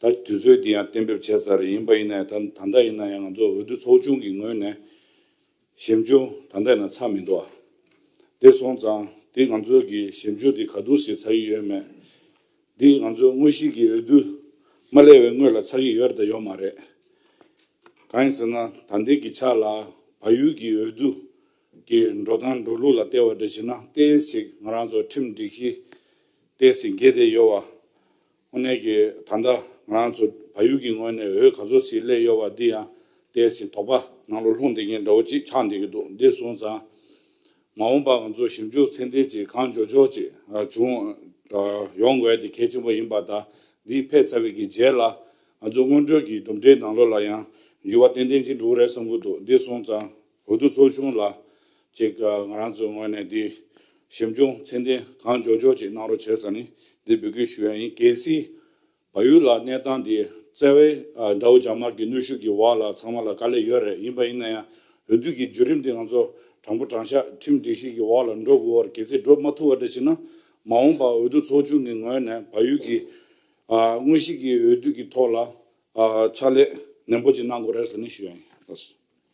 ད་དུས་ཚོད་དེ་ཡང་གཏན་འབེབས་བྱས་ཚར་རེ་ཡིན་པ་ཡིན་ནའི་ད་ད་ལྟ་ཡིན་ན་ཡང་ང་ཚོ་འོས་བསྡུ་ཚོགས་ཆུང་གི་ངོས་ནས་ཞིབ་འཇུག་ད་ལྟ་ཡིན་ན་ཚར་མི་འདུག་ཨ། དེ་སོང་ཙང་དེ་ང་ཚོའི་གི་ཞིབ་འཇུག་དེ་ག་དུས་སུ་ཚར་གི་ཡོད་མེད། འདི་ང་ཚོའི་དངོས་གཞིའི་གི་འོས་བསྡུ་མ་སླེབས་བའི་སྔོན་ལ་ཚར་གི་ཡོད་རེད་དང་ཡོད་མ་རེད། གང་ཡིན་ཟེར་ན་ད་ལྟའི་གི་ཆ་ལ་བལ་ཡུལ་གྱི་འོས་བསྡུ་གི་འགྲོ་སྟངས་འགྲོ་ལུགས་ལ་བལྟས་བ་འདྲ་བྱས་ན་ལྟས་ཤིག་ང་རང་ཚོ་ཁྲིམས་སྒྲིག་གཞི་ལྟས་ཟིན་གྱི་བསྡད་ཡོད་བ། ཨོ་ནེ་གི་ད་ལྟ་ང་རང་ཚོ་བལ་ཡུལ་གྱི་ངོས་ནས་འོས་ག་ཚོད་ཟིག་སླེབས་ཡོད་བ་འདི་ཡང་ལྟས་ཟིན་དོགས་པ་ནང་ལོ་ལྷུང་བསྡད་མཁན་འདྲ་བོ་ཅིག་ཆགས་འདེད་ཀྱི་འདུག་འདི་སོང་ཙང་མ་འོངས་པར་ང་ཚོ་ཞིབ་འཇུག་ཚད་ལྡན་ཅིག་གང་འཇོག་འཇོག་ཅིག་བྱུང་ཡོང་དགོས་དེ་གལ་ཆེན་པོ་ཡིན་པ་དང་འདི་ཕེབས་ཚར་བའི་གི་རྗེས་ལ་ང་ཚོ་སྔོན་འགྲོའི་གི་གྲུབ་འབྲས་ནང་ལོ་ལ་ཡང་འགྱུར་བ་ཏན་ཏན་ཅིག་འགྲོ་གི་རེད་བསམ་གྱི་འདུག་འདི་སོང་ཙང། བོད་དུ་འཚོ་བྱུང་ལ། ཅིག། ང་རང་ཚོའི་ངོས་ནས་འདིའི། ཞིབ་འཇུག་མཚན་ལྡན་གང་མགྱོགས་མགྱོགས་ཅིག་གནང་རོགས་བྱེད་ས་ནི་འདིར་འབུལ་སྐུལ་ཞུ་ཡ་ཡིན་གལ་སྲིད། བལ་ཡུལ་ལ་གནས་སྟངས་འདི་བཙལ་བས། དགྲ་བོ་རྒྱ་དམར་གྱི་གནོད་ཤུགས་ཀྱི་འོག་ལ་ཚང་མ་ལ་དཀའ་ལས་ཡོད་རེད་ཡིན་པ་ཡིན་ན་ཡང། འོས་བསྡུ་གི་བརྒྱུད་རིམ་འདི་ང་ཚོ་དྲང་པོ་དྲང་ཤག་ཁྲིམས་སྒྲིག་གཞི་གི་འོག་ལ་འགྲོ་དགོས་བར་གལ་སྲིད་འགྲོ་མ་ཐུབ་བ་འདྲ་ཞིག་ན། མ་འོངས་པར་འོས་བསྡུ་ཚོགས་ཆུང་གི་ངོས་ནས་བལ་ཡུལ་གྱི། དངོས་གཞི་གི་འོས་བསྡུ་གི་ཐོག་ལ། ཕྱག་ལས་ནན་པོ་ཅིག་གནང་དགོས་རེད་ས་ནི་ཞུ་ཡ་ཡིན།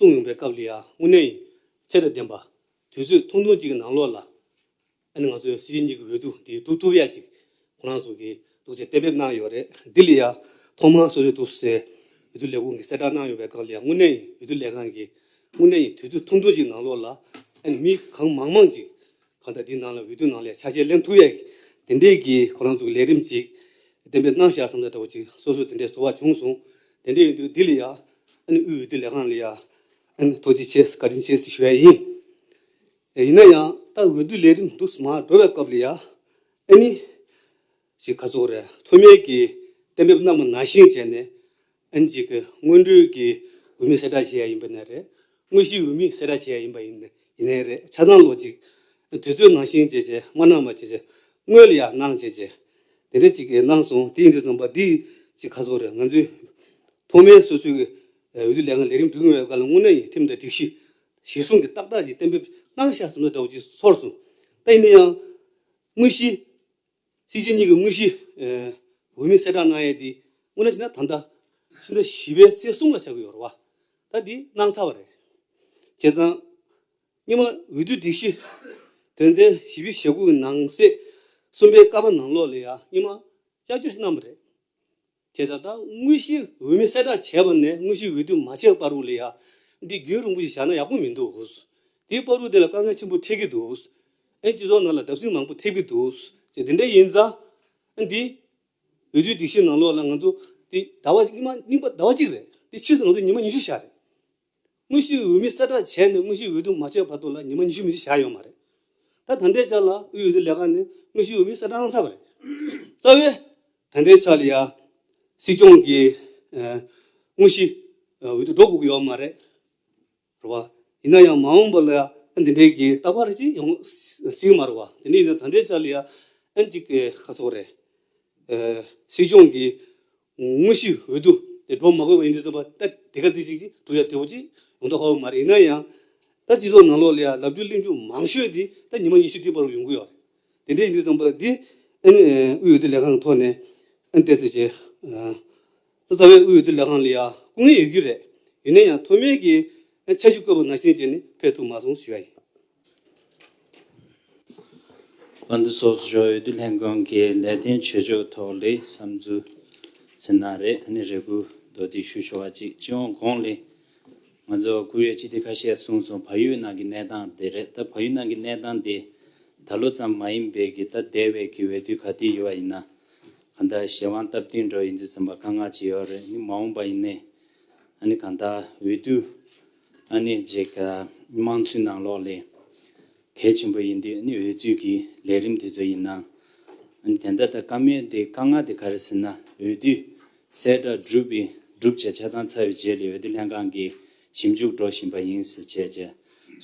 གསུང་ངོམ་པའི་སྐབས་ལ་ཡང་དངོས་གནས་ཡིད་ཚད་དང་ལྡན་པ། དུས་ཚོད་ཐུང་ཐུང་ཅིག་གི་ནང་ལོགས་ལ། ཨ་ནི་ང་ཚོས་སྲིད་སྤྱི་གཉིས་ཀྱི་འོས་བསྡུ་འདི་སྒྲུབ་ཐུབ་ཡ་ཅིག་ཁོ་རང་ཚོ་གིས་སྒྲུབ་ཆེད་གཏན་འབེབས་གནང་ཡོད་རེད། འདི་ལ་ཡང་ཐོག་མར་སོ་སོའི་འདུག་སའི་འོས་བསྡུ་ལས་ཁུངས་ཀྱིས་གསལ་བསྒྲགས་གནང་ཡོད་པའི་སྐབས་ལ་ཡང་དངོས་གནས་ཡིན་འོས་བསྡུ་ལས་ཁང་གིས་དངོས་གནས་ཡིན་དུས་ཚོད་ཐུང་ཐུང་ཅིག་གི་ནང་ལོགས་ལ། ཨ་ནི་མི་གང་མང་མང་ཅིག་གང་ལྟར་འདིའི་ནང་ལ་འོས་བསྡུའི་ནང་ལས་ཆ་བྱད་ལེན་ཐུབ་ཡས་དེ་འདྲས་ཀྱི་ཁོ་རང་ཚོ་ལས་རིམ་ཅིག་བདེན་པའི་གནང་བཞག་བསམ་ལ་དྲ་བོ་ཅིག་སོ་སོར་དེ་འདྲས་བཟོ་བ་བྱུང་སོང་དེ་འདྲས་ཡིན་དུས་འདི་ལ་ཡ་ཨན་དབུས་འོས་བསྡུ་ལས་ཁང་ལ་ཡ་ཨན་ཐོག་ཅིག་བྱས་བཀའ་དྲིན་ཆེ་ཞུ་ཡས་ཡིན། ཡིན་ན་ཡང་ད་འོས་བསྡུ་ལས་རིམ་འདུག་སྨ་འགྲོ་བའི་སྐབས་ལ་ཡ་ཨན་ནི། ཞེས་ཁ་ཚུགས་རེ་ཐོན་མེད་ཀྱི་གཏན་འབེབས་རྣམས་ནང་བཞིན་བྱས་ནས། ཨན་གཅིག་གི་སྔོན་འགྲོའི་གི་འོས་མི་གསལ་བསྒྲགས་བྱས་ཡ་ཡིན་པ་ནས་རེད། དངོས་གཞིའི་འོས་མི་གསལ་བསྒྲགས་བྱས་ཡ་ཡིན་པ་ཡིན་ཡིན་ནས་རེད་ཆ་ཚང་ལོ་གཅིག་དུས་ཚོད་ནང་བཞིན་བྱས་བྱས་མ་གནང་བ་བྱས་བྱས་དངོས་ལ་ཡ་གནང་བྱས་བྱས་དེ་འདྲ་ཅིག་གནང་སོང་དེ་ཡིན་དུས་རྩོམ་པ་འདིས་ཅིག་ཁ་ཚུགས་རེ་ང་ཚོའི་ཐོག་མའི་སོ་སོའི་གི་འོས་བསྡུ་ལས་ཁང་ལས་རིམ་བསྒྲུགས་ཡོང་བའི་བཀའ་ལ་དངོས་གནས་ཡིན་ཁྲིམས་དང་སྒྲིག་གཞི་གཞིར་བཟུང་གི་ཏག་ཏག་ཅིག་གཏན་འབེབས་གནང་བཞག་ཟེར་ན་འདྲ་བོ་ཅིག་ཚོར་སོང་ད་ཡིན་ན་ཡང་དངོས་གཞིའི། གཅིག་རྗེས་གཉིས་ཀྱི་དངོས་གཞིའིའོས་མིང་གསལ་བསྒྲགས་གནང་ཡས་དེ་སྔོན་ན་བྱིན་ན་ད་ལྟ། ཕྱི་ཟླ་བཞི་པའི་ཚེས་གསུམ་ལ་བྱ་དགོས་ཡོད་རེད་བ། ད་དེ་གནང་ཚར་བ་རེད། བྱས་ཙང། སྙིང་མ་འོས་བསྡུའི་སྒྲིག་གཞི། དོན་ཚན་བཞི་བཅུ་ཞེ་དགུ་གི་ནང་གསེས་གསུམ་པའི་ཀ་པ་ནང་ལོགས་ལས་ཡང་སྙིང་མ་བསྐྱར་བཅོས་ཤིག་གནང་བ་རེད། དེ་ལྟར་དང་དངོས་གཞི་འོས་མིན་གསལ་བསྒྲགས་བྱས་པ་ནས་དངོས་གཞི་འོས་བསྡུ་མ་བྱས་པར་རུང་ལས་ཡག། འདི་རྒྱུན་རིང་པོ་ཞིག་བཞག་ན་ཡག་པོ་མི་འདུག་དེས་དཔའ་རུ་དེ་ལ་དཀའ་ངལ་ཆེན་པོ་འཕྲད་ཀྱི་འདུག་ཨན་སྤྱི་ཚོགས་ནང་ལ་བརྡབ་གསིག་མང་པོ་ཐེབས་ཀྱི་འདུག་ཅེས་དེ་འདྲ་ཡིན་ཙང་ཨན་འདི་འོས་བསྡུའི་སྒྲིག་གཞིའི་ནང་ལོགས་ལ་ང་ཚོ་འདི་ཟླ་བ་གཉིས་པ་ཟླ་བ་གཅིག་རེད་དེ་ཕྱིས་སུ་ང་ཚོ་ཉིན་མ་ཉི་ཤུ་བཞག་རེད་དངོས་གཞིའི་འོས་མི་གསལ་བསྒྲགས་བྱས་ནས་དངོས་གཞིའི་འོས་བསྡུ་མ་བྱས་བར་དུ་ལ་ཉི་མ་ཉི་ཤུ་མི་བཞི་བཞག་ཡོད་མ་རེད། ད་ད་ལྟའི་ཆར་ལ་དབུས་འོས་བསྡུ་ལས་ཁང་ནས་དངོས་གཞིའི་འོས་མི་གསལ་བསྒྲགས་གནང་ཚར་བ་རེད། རྩ་བའི། ད་ལྟའི་ཆར་ལ་ཡང། སྲིད་སྐྱོང་གི། དངོས་གཞིའི། འོས་བསྡུ་འགྲོ་དགོས་ཀྱི་ཡོད་མ་རེད། རེད་བ། ཡིན་ན་ཡང་མ་འོངས་པ་ལ་ཡང་ཨ་འདི་འདྲའི་གི་རྟག་པར་ཅིག་ཡོང་སྲིད་མ་རེད་བ། དེ་ནས་ཡིན་ན་ད་ལྟའི་ཆར་ལ་ཡང་ཨ་འདི་གི་ཁ་སོགས་རེད། སྲིད་སྐྱོང་གི། དངོས་གཞི་འོས་བསྡུ་དེ་སྒྲོག་མ་དགོས་པ་ཡིན་དུས་བཙོན་པ་ལྟ་དེ་ག་ཚིག་ཅིག་ཅིག་བསྒྲུབ་བྱ་དེ་བོ་ཅིག་ཡོང་ཐབས་ཧ་གོ་མ་རེད་ཡིན་ན་ཡང། ད་སྤྱི་ཚོགས་ནང་ལོག་ལེ་ཡ་ལབ་རྒྱུ་གླེང་རྒྱུ་མང་ཤོས་དེ་ད་ཉི་མ་ཉི་ཤུ་དེའི་བར་བར་ཡོང་གི་ཡོད་རེད། དེ་འདྲའི་ཡིན་དུས་བཙོན་པ་ལྟ་འདི་ཨན་ནི་དབུས་འོས་བསྡུ་ལས་ཁང་གི་ཐོག་ནས་ཨན་བལྟས་ཚོད་བྱེད། ད་རྩ་བའི་དབུས་འོས་བསྡུ་ལས་ཁང་ལ་ཡ་སྐུ་ངལ་ཡོད་རྒྱུ་རེད་ཡིན་ན་ཡང་མཐོ་དམན་གྱི་ཨན་འཆར་གཞི་བཀོད་པ་ནང་བཞིན་བྱས་ནས་ཕེབས་ཐུབ་མ་སོང་ཞུ་ཡ་ཡིན། ཨ་མདོ་སོགས་སུ་ཞོགས་འོས་བསྡུ་ལྷན་ཁང་གི་ལས་དོན་བྱེད་ཕྱོགས་ཐོག་ལས་བསམ་ཚུལ་ཟེར་ན་རེ་ཨ་ནེ་རེ་སྐུལ་མདོ་སྡིག་ཞུ་ཆོག་ཅིག་སྤྱི་ཡོངས་གོང་ལས་ང་ཚོ་བཀུར་ཡོད་སྤྱི་འཐུས་ཁ་ཤས་གསུངས་སོང་བ་ཡུལ་ནང་གི་གནས་སྟངས་དེ་རེད་ད་བ་ཡུལ་ནང་གི་གནས་སྟངས་དེ་ད་ལོ་ཙམ་མ་ཡིན་པའི་གི་ད་དེ་བས་གི་འོས་བསྡུ་ག་དུས་ཡོད་བ་ཡིན་ན་གང་ལྟར་གཞན་དབང་སྟབས་བསྟུན་འགྲོ་ཡི་འཛི་ཟིན་པ་དཀའ་ངག་ཅིག་ཡོད་རེད་ནི་མ་འོངས་པ་ཡིན་ནའི་ཨ་ནེ་གང་ལྟར་འོས་བསྡུ། ཨ་ནེ་བརྗེད་དཀའ་དམངས་འཚོའི་ནང་ལོགས་ལས་གལ་ཆེན་པོ་ཡིན་དུས་ཨ་ནེ་འོས་བསྡུ་གི་ལས་རིམ་དེ་ཚོ་ཡིན། དེ་འདྲ་ད་དཀའ་མོལ་དེ་དཀའ་ངལ་དེ་ག་རེ་ཟེར་ན་འོས་བསྡུ་གསལ་བསྒྲགས་སྒྲུབ་པའི་སྒྲུབ་བྱེད་ཆ་ཚང་ཚར་བའི་རྗེས་ལས་འོས་བསྡུ་ལྷན་ཁང་གི་ཞིབ་འཇུག་འགྲོ་བཞིན་པ་ཡིན་ཟེར་བྱས་རྗེས་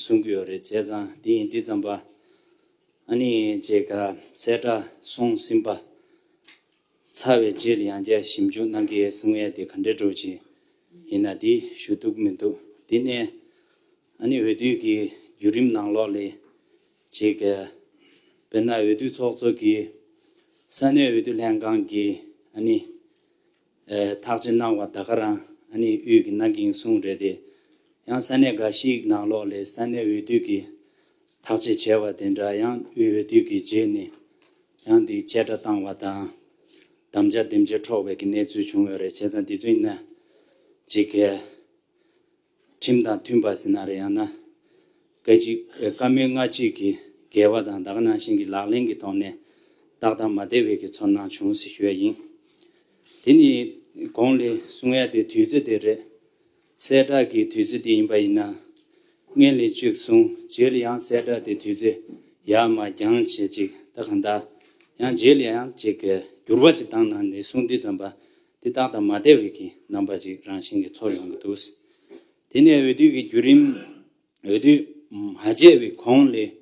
གསུང་གི་ཡོད་རེད་བྱས་ཙང་དེ་ཡིན་དུས་རྩམ་པ་ཨ་ནེ་བརྗེད་དཀའ་གསལ་བསྒྲགས་སོང་ཟིན་པ། ཚ་བའི་རྗེས་ཡང་བསྐྱར་ཞིབ་འཇུག་གནང་གི་ཡོད་གསུངས་ཡ་དེ་ག་འདྲའི་དྲོ་ཅན་ཡིན་ན་དེ་ཞུ་གཏུག་མི་འདུག་དེ་ནས་ཨ་ནི་འོས་བསྡུ་གི་བརྒྱུད་རིམ་ནང་ལོགས་ལས་བྱེད་ག་དཔེར་ན་འོས་བསྡུ་ཚོགས་གཙོ་གི་ས་གནས་འོས་བསྡུ་ལྷན་ཁང་གི་ཨ་ནི་ཐག་བཅད་གནང་བ་ད་ག་རང་ཨ་ནི་དབུས་གི་གནང་གིན་གསུངས་རེད་དེ་ཡང་ས་གནས་ག་ཞིག་ནང་ལོགས་ལས་ས་གནས་འོས་བསྡུ་གི་ཐག་ཅེས་བྱ་བ་དེ་འདྲ་ཡང་དབུལ་བའི་དུས་ཀྱི་རྗེས་ནས་ཡང་དེའི་བཅད་སྒྲ་བཏང་བ་དང། དམ་བཅའ་འདེམས་བྱེད་འཕྲོག་པའི་གནས་ཚུལ་བྱུང་བས་རེད་བྱས་ཙང་དེ་ཚོའི་ནང་གི་སྐད། ཁྲིམས་དང་མཐུན་པ་ཟིན་ན་རེད་ཡང་ན་སྐད་ཅིག་བཀའ་མོལ་ལྔ་གཅིག་གི་འགལ་བ་དང་དག་སྣང་ཞིང་གི་ལག་ལེན་གྱི་ཐོག་ནས་ཏག་ཏག་མ་བདེ་བའི་གི་ཚོར་སྣང་བྱུང་ཟིག་ཞུ་ཡ་ཡིན། དེ་ནི་གོང་ལས་གསུང་ཡ་དེ་དུས་ཚོད་དེ་རེད། གསལ་བསྒྲགས་ཀྱི་དུས་ཚོད་དེ་ཡིན་པ་ཡིན་ན། སྔས་ལས་བཅུ་གསུམ་བརྗེས་ལ་ཡང་གསལ་བསྒྲགས་དེ་དུས་ཚོད་ཡར་མར་འགྱངས་བྱེད་ཅིག་ད་གང་ལྟར་ཡང་བརྗེས་ལ་ཡང་བརྗེས་གལ་འགྱུར་བ་ཅིག་བཏང་ན་ནས་གསུང་དུས་ཙམ་པ་དེ་ཏག་ཏག་མ་བསྡད་བས་ཀྱི་རྣམ་པ་ཅིག་རང་བཞིན་གྱིས་ཚོར་ཡོང་གི་འདུག་དེ་ནས་འོས་བསྡུ་གི་བརྒྱུད་རིམ། འོས་བསྡུ་མ་བྱས་བའི་གོང་ལས་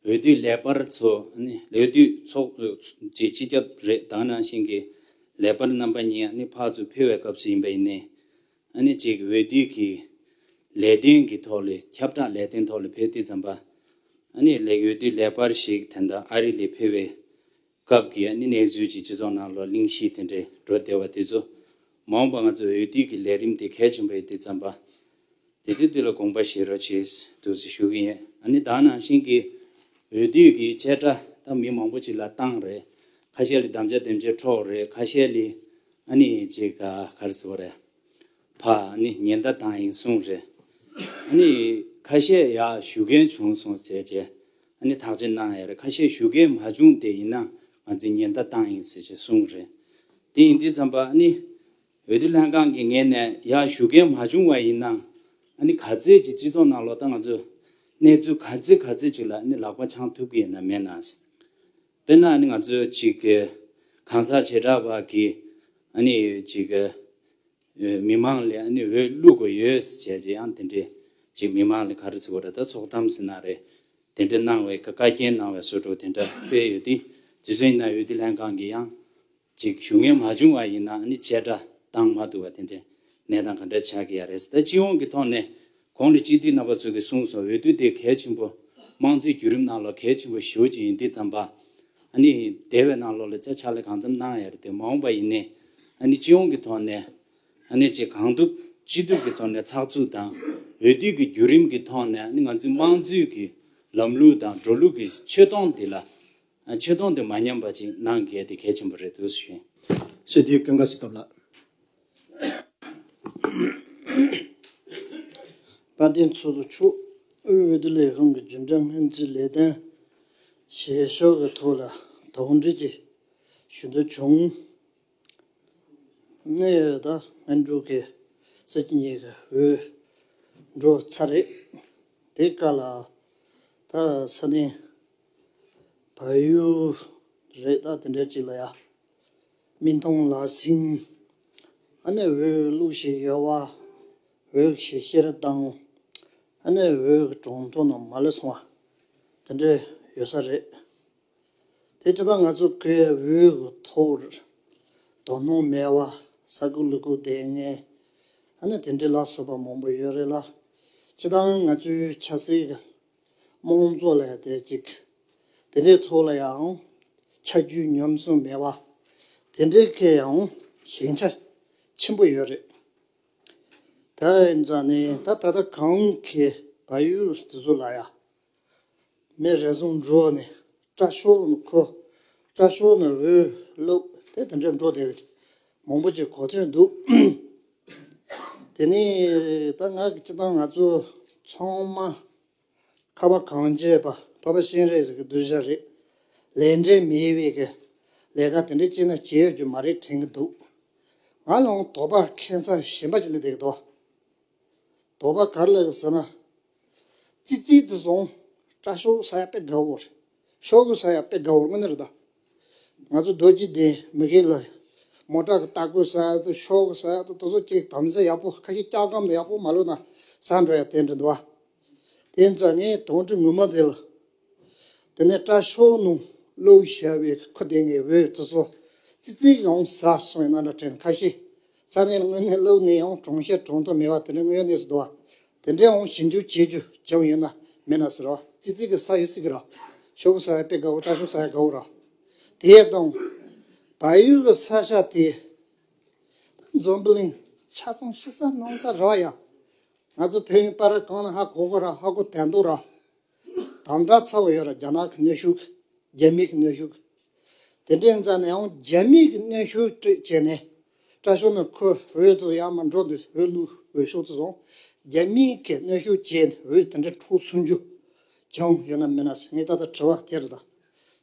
འོས་བསྡུ་ལས་པར་ཚོ་ནི་འོས་བསྡུ་ཚོགས་བཅས་སྤྱི་ཁྱབ་རེ་དང་རང་བཞིན་གྱི་ལས་པར་རྣམ་པ་གཉིས་ནི་ཕག་ཚུ་འཕེལ་བའི་སྐབས་སུ་ཡིན་པ་ཡིན་ནས། ཨ་ནེ་བཅས་ཀྱི་འོས་བསྡུའི་གི་ལས་དོན་གྱི་ཐོག་ལས་ཁྱབ་བསྒྲགས་ལས་དོན་ཐོག་ལས་འཕེལ་བསྡུ་བརྩམས་པ། ཨ་ནེ་ལེགས་འོས་བསྡུ་ལེགས་པར་ཞིག་དེ་འདྲ་ཨ་རི་ལས་ཕེབས་པའི་སྐབས་ཀྱི་ཨ་ནེ་གནས་ཚུལ་གྱི་སྤྱི་ཚོགས་ནང་ལོ་གླིང་བཞི་དེ་འདྲའི་འགྲོ་བདེ་བ་དེ་ཚོ་མ་འོངས་པར་ང་ཚོ་འོས་བསྡུ་གི་ལས་རིམ་དེ་གལ་ཆེན་པོ་རེད་དེ་བརྩམས་པ། དེ་ཚོའི་དུས་ལ་དགོངས་པ་བཞེས་རོགས་བྱེད་དུ་ཞུ་གི་ཡིན་ཨ་ནེ་དང་ནང་བཞིན་གྱི་འོས་བསྡུ་གི་བཅད་ཁྲ་དག་མི་མང་པོ་ཅིག་ལ་བཏང་རེད་ཁ་ཤས་ལ་དམ་བཅའ་དེམ་བཅའི་འཕྲོག་རེད་ཁ་ཤས་ལས་ཨ་ནི་ཅི་ག་གར་ཟེར་བ་རེད། ཕ་ནི་ཉི་ཟླ་དང་ཡིན་གསུངས་རེད། ཨ་ནི་ཁ་བཤད་ཡག་ཞུ་མཁན་བྱུང་སོང་ཟེར་རྗེས་ཨ་ནི་ཐག་གཅད་གནང་ཡ་རེད་ཁ་བཤད་ཞུ་མཁན་མ་བྱུང་སྟེ་ཡིན་ན་ང་ཚོས་ཉི་ཟླ་དང་ཡིན་ཟེར་ཞེས་གསུངས་རེད། དེ་ཡིན་དུས་བརྩམས་པ་ཨ་ནི་འོས་བསྡུ་ལྷན་ཁང་གི་ངེས་ནས་ཡག་ཞུ་མཁན་མ་བྱུང་བ་ཡིན་ན་ཨ་ནི་ག་ཚད་ཅིག་སྤྱི་ཚོགས་ནང་ལོག་ད་ང་ཚོས་གནས་ཚུལ་ག་ཚད་ག་ཚད་ཅིག་ལ་ཨ་ནི་ལག་པ་འཆང་ཐུབ་ཀྱི་ཡིན་ན་མེད་ན། དཔེར་ན་ང་ཚོས་གཅིག་གང་ཟག་བྱེ་བྲག་བར་གྱི་མི་མང་ལས་འོས་བླུག་དགོས་ཡོད་ཟེར་བྱས་ཀྱང་དེ་འདྲའི་མི་མང་ལས་ག་རེ་ཚུགས་པ་རེད་ད་ཚོགས་གཏམ་ཟེར་ན་རེད་དེ་འདྲ་གནང་བའི་བཀའ་རྒྱན་གནང་བའི་སྲོལ་དྲུག་དེ་འདྲ་སྤེལ་ཡོད་དེ་རྗེ་བཙུན་ན་ཡོད་དེ་ལྷན་ཁང་གི་ཡང། ཅིག་ཞུ་ངེས་མ་བྱུང་བ་ཡིན་ན་ནི་བཅད་ཁྲ་བཏང་མ་ཐུབ་པ་དེ་འདྲའི་གནས་སྟངས་ག་འདྲ་ཆགས་ཀྱི་ཡ་རེད། ད་སྤྱི་ཡོངས་ཀྱི་ཐོག་ནས་གོང་དུ་སྤྱི་འཐུས་རྣམ་པ་ཚོ་གིས་གསུངས་སོང་འོས་བསྡུ་དེ་གལ་ཆེན་པོ་དམངས་གཙོའི་བརྒྱུད་རིམ་ནང་ལོ་གལ་ཆེན་པོ་ཞིག་ཡིན་འདི་ཙམ་པ་ཨ་ནི་དེ་བས་ནང་ལོག་ལ་ཅག་ཕྱག་ལས་གང་འཚམ་གནང་ཡ་རེད་དེ་མ་འོངས་པ་ཡིན་ནས་ཨ་ནི་སྤྱི་ཡོངས་ཀྱི་ཐོག་ནས་ཨ་ནི་ཅིག་གང་ཐུབ་ཅི་ཐུབ་ཀྱི་ཐོག་ནས་ཚགས་ཚུད་དང་འོས་བསྡུ་གི་བརྒྱུད་རིམ་གྱི་ཐོག་ནས་ཨ་ནི་ང་ཚོའི་དམངས་གཙོའི་གི་ལམ་ལུགས་དང་འགྲོ་ལུགས་ཀྱི་ཆོད་སྟོང་འདི་ལ་ཆེ་མཐོང་དེ་མ་ཉམས་པ་ཅིག་གནང་དགོས་དེ་གལ་ཆེན་པོ་རེད་འདུག་ཞུ། ཞེས་དེའི་སྐད་འགའ་ཞིག་བཏབ་ལགས། བཀའ་བསྟན་ཚོགས་གཙོ་མཆོག་དབུས་འོས་བསྡུ་ལས་ཁང་གི་རྒྱུན་ལྡན་སྔོན་རྩིས་ལས་དོན་བྱེད་ཕྱོགས་ཀྱི་ཐོག་ལ་དོགས་འདྲི་ཞིག་ཞུ་འདོད་བྱུང། གནས་ཡོད་དང་སྨན་སྤྲུལ་གྱི་སྲིད་ཀྱི་གཉིས་ཀ་འོས་འགྲོ་ཚར་རེད། དེ་ག་ལ་ད་ས་གནས་བལ་ཡུལ་རེད་ད་དེ་འདྲ་ཅིག་ལ་ཡང་མི་མཐོང་ལགས་ཟིན། ཨ་ནེ་འོས་བླུགས་ཤིག་ཡོད་བ་འོས་ཤིག་ཤེས་རབ་བཏང། ཨ་ནེ་འོས་གྲོང་ཐོ་ནང་མ་ལ་སོང་བ་དེ་འདྲ་ཡོད་ས་རེད། དེ་ལྟ་ན་ང་ཚོ་སྐད་འོས་ཀྱི་ཐོག་རེད། དོ་སྣང་མེད་བ། ས་ཁུག་ལུག་ཁུག་བསྡད་ངེས། ཨ་ནི་དེ་འདྲའི་ལག་བཟོ་པ་མང་པོ་ཡོད་རེད་ལ། སྤྱི་བཏང་ང་ཚོའི་ཆ་སྲིད་ཀྱི་དམངས་གཙོ་ལས་བསྡད་ཅིག། དེ་འདྲའི་ཐོག་ལ་ཡང་ཆ་རྒྱུས་ཉམས་སུ་མེད་བ། དེ་འདྲའི་སྐད་ཡང་ཞན་ཆ་ཆེན་པོ་ཡོད་རེད། དེ་འདྲ་ནས་ད་ད་ལྟ་གང་གི་བལ་ཡུལ་དེ་ཚོ་ལ་ཡང་མེ་རེ་ཟུང་འགྲོ་བ་ནི་སྐྲ་ཤོར་བ་མཁོ། སྐྲ་ཤོར་ན་འོད་ལོག་དེ་དེ་འདྲ་འགྲོ་བདེ་བའི་མང་པོ་ཅིག་གོ་ཐོས་འདུག། དེ་ནས་ད་ང་གི་སྤྱི་བཏང་ང་ཚོ་ཚང་མ་ཁ་བ་གངས་རྒྱས་པ་ཕ་བ་གཤེན་རེད་ཟེར་གི་བསྡུར་བཞག་རེད། ལས་འབྲས་མི་དབྱེ་བའི་གི་ལས་ཀ་དེ་འདྲ་ཅིག་ན་བྱེད་ཡོད་རྒྱུ་མ་རེད་དྲན་གི་འདུག། ང་ལའང་དོགས་པ་ཁྱད་མཚར་གཞན་པ་ཅིག་ལས་འདེགས་དོགས་པ་ག་རེ་ལ་ཡོད་ཟེར་ན། ཙི་ཙི་དུ་སོང། སྐྲ་ཤོག་ས་ཡ་པད་དགའ་བོར། ཤོག་བུ་ས་ཡ་པད་དགའ་བོར་དངོས་གནས་རྡོ། ང་ཚོ་རྡོ་རྗེ་གདན་མི་ཁའི་ལ། མོ་བྲག་གི་སྟག་རྒོད་ས་ཡ་དུ་ཤོག་བུ་ས་ཡ་དུ་དོ་ཚོ་ཅིག་དམ་ས་ཡག་པོ་ཁ་ཤི་སྐྱག་སྒམ་ཡག་པོ་མ་ལོ་ན་ས་འགྲོ་ཡ་དེ་འདྲ་འདུག་ཨ། དེ་ནས་ཙང་ངའི་དོང་གྲི་ངུ་མ་དེ་ལ། དེ་ནས་སྐྲ་ཤོག་ནུང་ལོའུ་ཞེས་པའི་ཁུ་དེ་ངའི་འོད་དུ་སོང། ཙི་ཙི་གི་ཨོང་ས་སོང་ཡིན་ན་འདྲ་དྲན་ཁ་ཤི། ས་གནས་དངོས་གནས་སླེབས་ནས་ཡང་གྲོང་ཤེར་གྲོང་དུ་མེད་པ་དེ་འདྲའི་དངོས་གནས་སུ་འདུག་བ། དེ་འདྲའི་འོང་ཞིང་འགྱུར་བྱེད་རྒྱུ་ཅང་ཡོད་ན་མེད་ན་ཟེར་བ་ཙི་ཙི་གི་ས་ཡོད་སྲིད་ཀྱི་ར། ཤོག་བུ་ས་ཡ་པའི་དགའ་བོ་བཀྲ་ཤོག་ས་ཡ་དགའ་བོ་ར། དེ་ཡས་སྟོང། བལ་ཡུལ་གྱི་ས་ཆ་དེ། འཛོམས་པི་ལིང། ཆ་ཚང་ཤི་ས་གནང་ས་ར་ཡ། ང་ཚོ་བོད་ཡུལ་པ་ར་གང་ན་ཧ་གོ་གོ་ར་ཧ་གོ་དད་མདོ་ར། དམ་དྲག་ཚ་བོ་ཡོད་ར་རྒྱ་ནག་གི་གནོད་ཤུགས། རྒྱ་མི་གི་གནོད་ཤུགས། དེ་འདྲའི་མཛའ་ནའང་རྒྱ་མི་གི་གནོད་ཤུགས་སྤྲོད་བྱས་ནས། སྐྲ་ཤོ་ནས་ཁོ་འོད་དུ་ཡང་མ་འགྲོ་འདི་འོད་ལུ་འོད་ཤོག་དུ་སོང། རྒྱ་མི་གི་གནོད་ཤུགས་བྱས་ནས་འོད་དེ་འདྲ་འཕྲོ་སོང་རྒྱུ། བྱུང་ཡོད་ན་མེད་ན་ཟེར་ངས་ད་ལྟ་དྲི་བ་དེ་རེད་ད།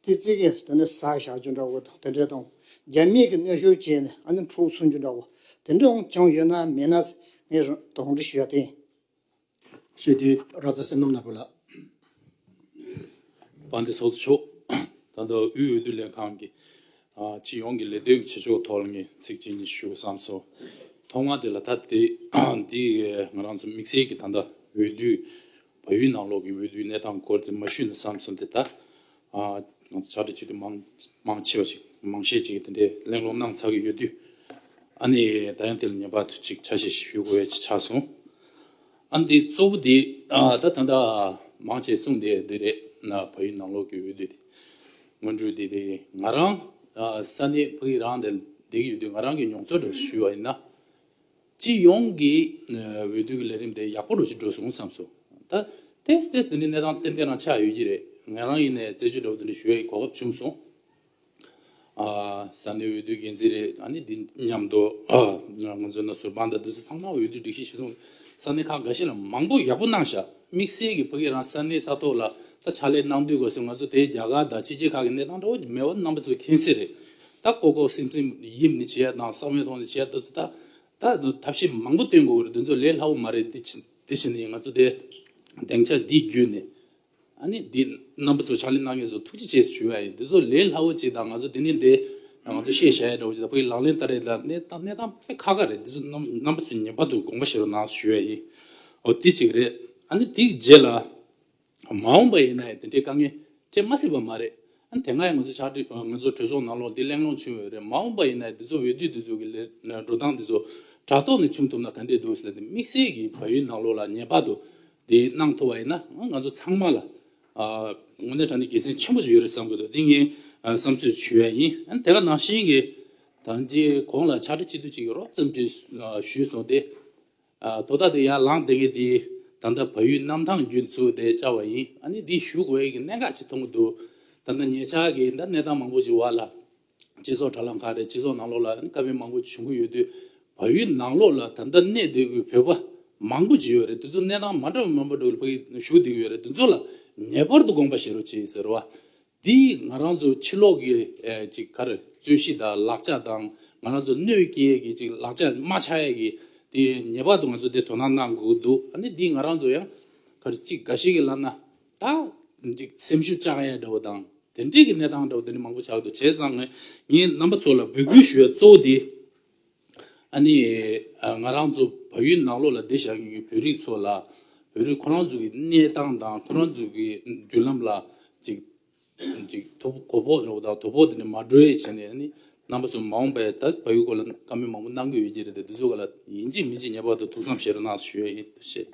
ཙི་ཙི་གི་དེ་འདྲ་ཟ་བཞག་རྒྱུ་འདྲ་བོ་དང་དེ་འདྲའི་དང། རྒྱ་མི་གི་གནོད་ཤུགས་བྱས་ནས་ཨ་ནི་འཕྲོ་སོང་རྒྱུ་འདྲ་བོ། དེ་འདྲའང་བྱུང་ཡོད་ན་མེད་ན་ཟེར་ངས་དང་དྲི་ཞུ་བཞག་དེ་ཡིན། ཞེས་དེའི་རྭ་ཙ་སེམས་ནམ་ནག་པོ་ལ། པ་འདི་སོགས་སུ་ཕྱོགས། ད་ལྟ་དབུས་འོས་བསྡུ་ལས་ཁང་གི། སྤྱི་ཡོངས་ཀྱི་ལས་དོན་གྱི་བྱེད་ཕྱོགས་ཐོག་ལ་ངས་ཚིག་གཅིག་གཉིས་ཞུ་བསམ་སོང། ཐོག་མར་དེ་ལ་ད་ལྟ་འདི་ང་རང་ཚོ་དམིགས་བསལ་གྱི་ད་ལྟ་འོས་བསྡུའི། བ་ཡུལ་ནང་ལོགས་ཀྱི་འོས་བསྡུའི་གནས་སྟངས་སྐོར་དེ་མ་ཞུས་ན་བསམ་སོང་དེ་ལྟ། ང་ཚོ་བྱ་བྲལ་བྱེད་དུས་མང་མང་ཆེ་བ་ཞིག་མང་ཤས་ཀྱིས་དེ་འདྲའི་གླེང་སློང་གནང་ཚར་གྱི་ཡོད་དུས། ཨ་ནི་ད་ཡང་དེ་ལ་ངེས་པར་དུ་ཅིག་ཆ་ཞིག་ཞུ་དགོས་ཆགས་སོང། ཨ་འདི་གཙོ་བོ་དེ་ད་ད་ད་མང་ཆེས་གསུངས་དེ་འདི་རེད། བོད་ཡིག་ནང་ལོག་གི་འོས་བསྡུ་དེ་སྔོན་འགྲོའི་དེ་དེ་ང་རང་ས་གནས་ཕ་གི་རང་དེ་ལ་བསྡད་ཀྱི་ཡོད་དུས་ང་རང་གིས་མྱོང་ཚོར་འདྲ་པོ་ཞུས་པ་ཡིན་ན། སྤྱི་ཡོངས་ཀྱི་འོས་བསྡུ་གི་ལས་རིམ་དེ་ཡག་པོ་རུ་ཕྱིན་འགྲོ་སོང་བསམ་སོང། ད་ཐེངས་སི་ཏེས་འདི་ནི་གནས་སྟངས་གཏན་འཁེལ་ནང་ཆགས་ཡོད་ཀྱི་རེད། ངས་རང་ཡིན་ནས་རྩད་གཅོད་འདྲ་བོ་འདི་འདྲ་ཞུ་བའི་གོ་སྐབས་བྱུང་སོང། ས་གནས་འོས་བསྡུའི་འགན་འཛིན་རེད་ཨ་ནི་འདི་མཉམ་དུ་ང་ཚོ་ནང་ཟུར་དཔང་དང་བསྡུར་ཚེ་ཚང་མ་འོས་བསྡུའི་སྒྲིག་གཞི་གཞི་བཟུང་ས་གནས་ཁག་འགའ་ཤས་ལ་མང་པོ་ཡག་པོ་གནང་བཞག་དམིགས་བསལ་གྱི་ཕ་གིའི་རང་ས་གནས་ས་ཐོག་ལ་ད་ཕྱག་ལས་གནང་དུས་གོ་སོང་ང་ཚོ་དེ་རྒྱ་གར་དང་ཕྱི་རྒྱལ་ཁག་གི་གནས་སྟངས་འདྲ་བོ་མེད་པ་རྣམ་པ་ཚོས་མཁྱེན་གསལ་རེད། ད་ལྐོག་ལྐོག་སིམ་སིམ་ཡིབ་ནི་བྱས་དང་ཟག་མེད་ཐོག་ནི་བྱས་ད་ཚོད་ད་ད་ཐབས་ཤེས་མང་པོ་བཏོན་དགོས་རེད་དེ་ཚོ་ལས་སླ་བོ་མ་རེད་དེ་དེ་བྱས་ནས་ང་ཚོ་དེ་སྡེང་ཆ་འདི་བརྒྱུད་ནས་ཨ་ནི་འདི་རྣམ་པ་ཚོ་ཕྱག་ལས་གནང་མཁན་ཚོ་ཐུགས་རྗེ་ཆེ་ཞུ་ཡ་ཡིན་དེ་ཚོ་ལས་སླ་བོ་བྱས་དང་ང་ཚོ་དེ་ནི་དེ་ང་ཚོ་ཤེས་བྱ་ཡ་འདྲ་བོ་བྱས་ད་བོད་ཀྱི་ལག་ལེན་ལྟར་རེད་ད་གནས་སྟངས་གནས་སྟངས་དཔེ་ཁ་ཁ་རེད་དེ་ཚོ་རྣམ་པ་ཚོ་ངེས་པར་དུ་དགོངས་པ་བཞེས་རོགས་གནང་ཞུ་ཡ་ཡིན་འོ་དེ་གཅིག་རེད་ཨ་ནི་དེའི་རྗེས་ལ། མ་འོངས་པ་ཡིན་ན་ཡང་དེ་འདྲའི་དཀའ་ངལ་འཕྲད་མ་སྲིད་པ་མ་རེད། དེ་སྔ་ཡང་ང་ཚོ་ཕྱག་བྲིས་ང་ཚོ་གྲོས་ཚོགས་ནང་ལོགས་འདི་གླེང་སློང་བྱུང་ཡོད་རེད་མ་འོངས་པ་ཡིན་ན་འདི་ཚོ་འོས་བསྡུ་འདི་ཚོ་གི་ལས་འགྲོ་སྟངས་འདི་ཚོ་དྲ་ཐོག་ནས་བྱུང་ཐུབ་ན་ག་འདྲས་འདུག་ཟེར་ཏེ་དམིགས་བསལ་གྱི་བལ་ཡུལ་ནང་ལོགས་ལ་ངེས་པར་དུ་འདི་གནང་ཐུབ་པ་ཡིན་ན་ང་ཚོ་ཚང་མ་ལ་ངོ་ནས་དྲ་ནས་དགེ་མཚན་ཆེན་པོ་ཞིག་ཡོད་རེད་བསམ་གྱི་འདུག་འདི་ངའི་བསམ་ཚུལ་ཞུ་ཡ་ཡིན། དེ་ག་ནང་བཞིན་གྱི་ད་འདི་གོང་ལ་ཕྱག་བྲིས་སྤྱི་འཐུས་གཅིག་གི་རོགས་ཙམ་བྲིས་ཞུས་སོང་སྟེ། དོ་བདག་དེ་ཡར་ལངས་བསྡད་མཁན་དེ་ད་ལྟ་བལ་ཡུལ་གནམ་ཐང་རྒྱུན་ཚུགས་དེ་བཅར་བ་ཡིན་ཨ་ནི་འདི་བཞུགས་འོས་ཀྱི་གནད་འགག་ཅིག་མཐོང་གི་འདུག་ད་ལྟ་ངེད་ཅག་གིས་འདྲ་གནས་སྟངས་མང་པོ་ཅིག་བར་ལ་སྤྱི་ཚོགས་དྲ་ལམ་ཁག་རེད་སྤྱི་ཚོགས་ནང་ལོགས་ལ་ཨ་ནི་དཀའ་བས་མང་པོ་བྱུང་གི་ཡོད་དུས་བལ་ཡུལ་ནང་ལོགས་ལ་ད་ལྟ་གནས་བསྡད་གི་བོད་པ་མང་པོ་ཅིག་ཡོད་རེད་དེ་ཚོ་གནས་སྟངས་མ་འདྲ་བ་མང་པོ་འདུག་ལ་བལ་ཡུལ་བཞུགས་བསྡད་གི་ཡོད་རེད་དེ་ཚོ་ལ་ངེས་པར་དུ་དགོངས་པ་བཞེས་རོགས་ཅེས་ཟེར་བ་འདིས་ང་རང་ཚོ་ཕྱི་ལོག་གི་ཅིག་གར་རྩོད་གཞི་དང་ལག་ཆ་དང་ང་རང་ཚོ་གནོད་སྐྱེལ་གྱི་ཅིག་ལག་ཆ་རྨ་བྱ་ཡས་ཀྱི་དེ་ངེས་པར་དུ་ང་ཚོ་དེ་དོ་སྣང་གནང་དགོས་འདུག་ཨ་ནི་འདིས་ང་རང་ཚོ་ཡང་གར་ཅིག་འགའ་ཞིག་གི་ལབ་ན་ད་ཅིག་སེམས་ཤུགས་བཅག་ཡས་འདྲ་བོ་དང་དེ་འདྲས་ཀྱི་གནས་སྟངས་འདྲ་བོ་དེ་འདྲས་མང་པོ་ཆགས་འདུག་བྱས་ཙང་ངས་རྣམ་པ་ཚོ་ལ་འབོད་སྐུལ་ཞུ་ཡས་གཙོ་བོ་དེ། ཨ་ནི། ང་རང་ཚོ་བལ་ཡུལ་ནང་ལོགས་ལ་བསྡད་བཞག་གི་ཡུལ་བོད་རིགས་ཚོ་ལ། བོད་རིགས་ཁོ་རང་ཚོ་གི་གནས་སྟངས་དང་ཁོ་རང་ཚོ་གི་མདུན་ལམ་ལ། ཅིག་ཅིག་དོ་གོ་བོག་རོགས་དང་དོ་བོག་དེ་ནས་མ་སྒྲོལ་བྱས་ནས་ཨ་ནི། རྣམ་པ་ཚོ་མ་འོངས་པའི་ད་བལ་ཡུལ་སྐོར་ལ་བཀའ་མོལ་མང་པོ་གནང་གི་ཡོད་ཀྱི་རེད་དེ་ཚོ་ག་ལ་ཡིན་གཅིག་མིན་གཅིག་ངེས་པར་དུ་ཐུགས་བསམ་བཞེས་རོགས་གནང་ཞུ་ཡི་ཡིན་ཞེས།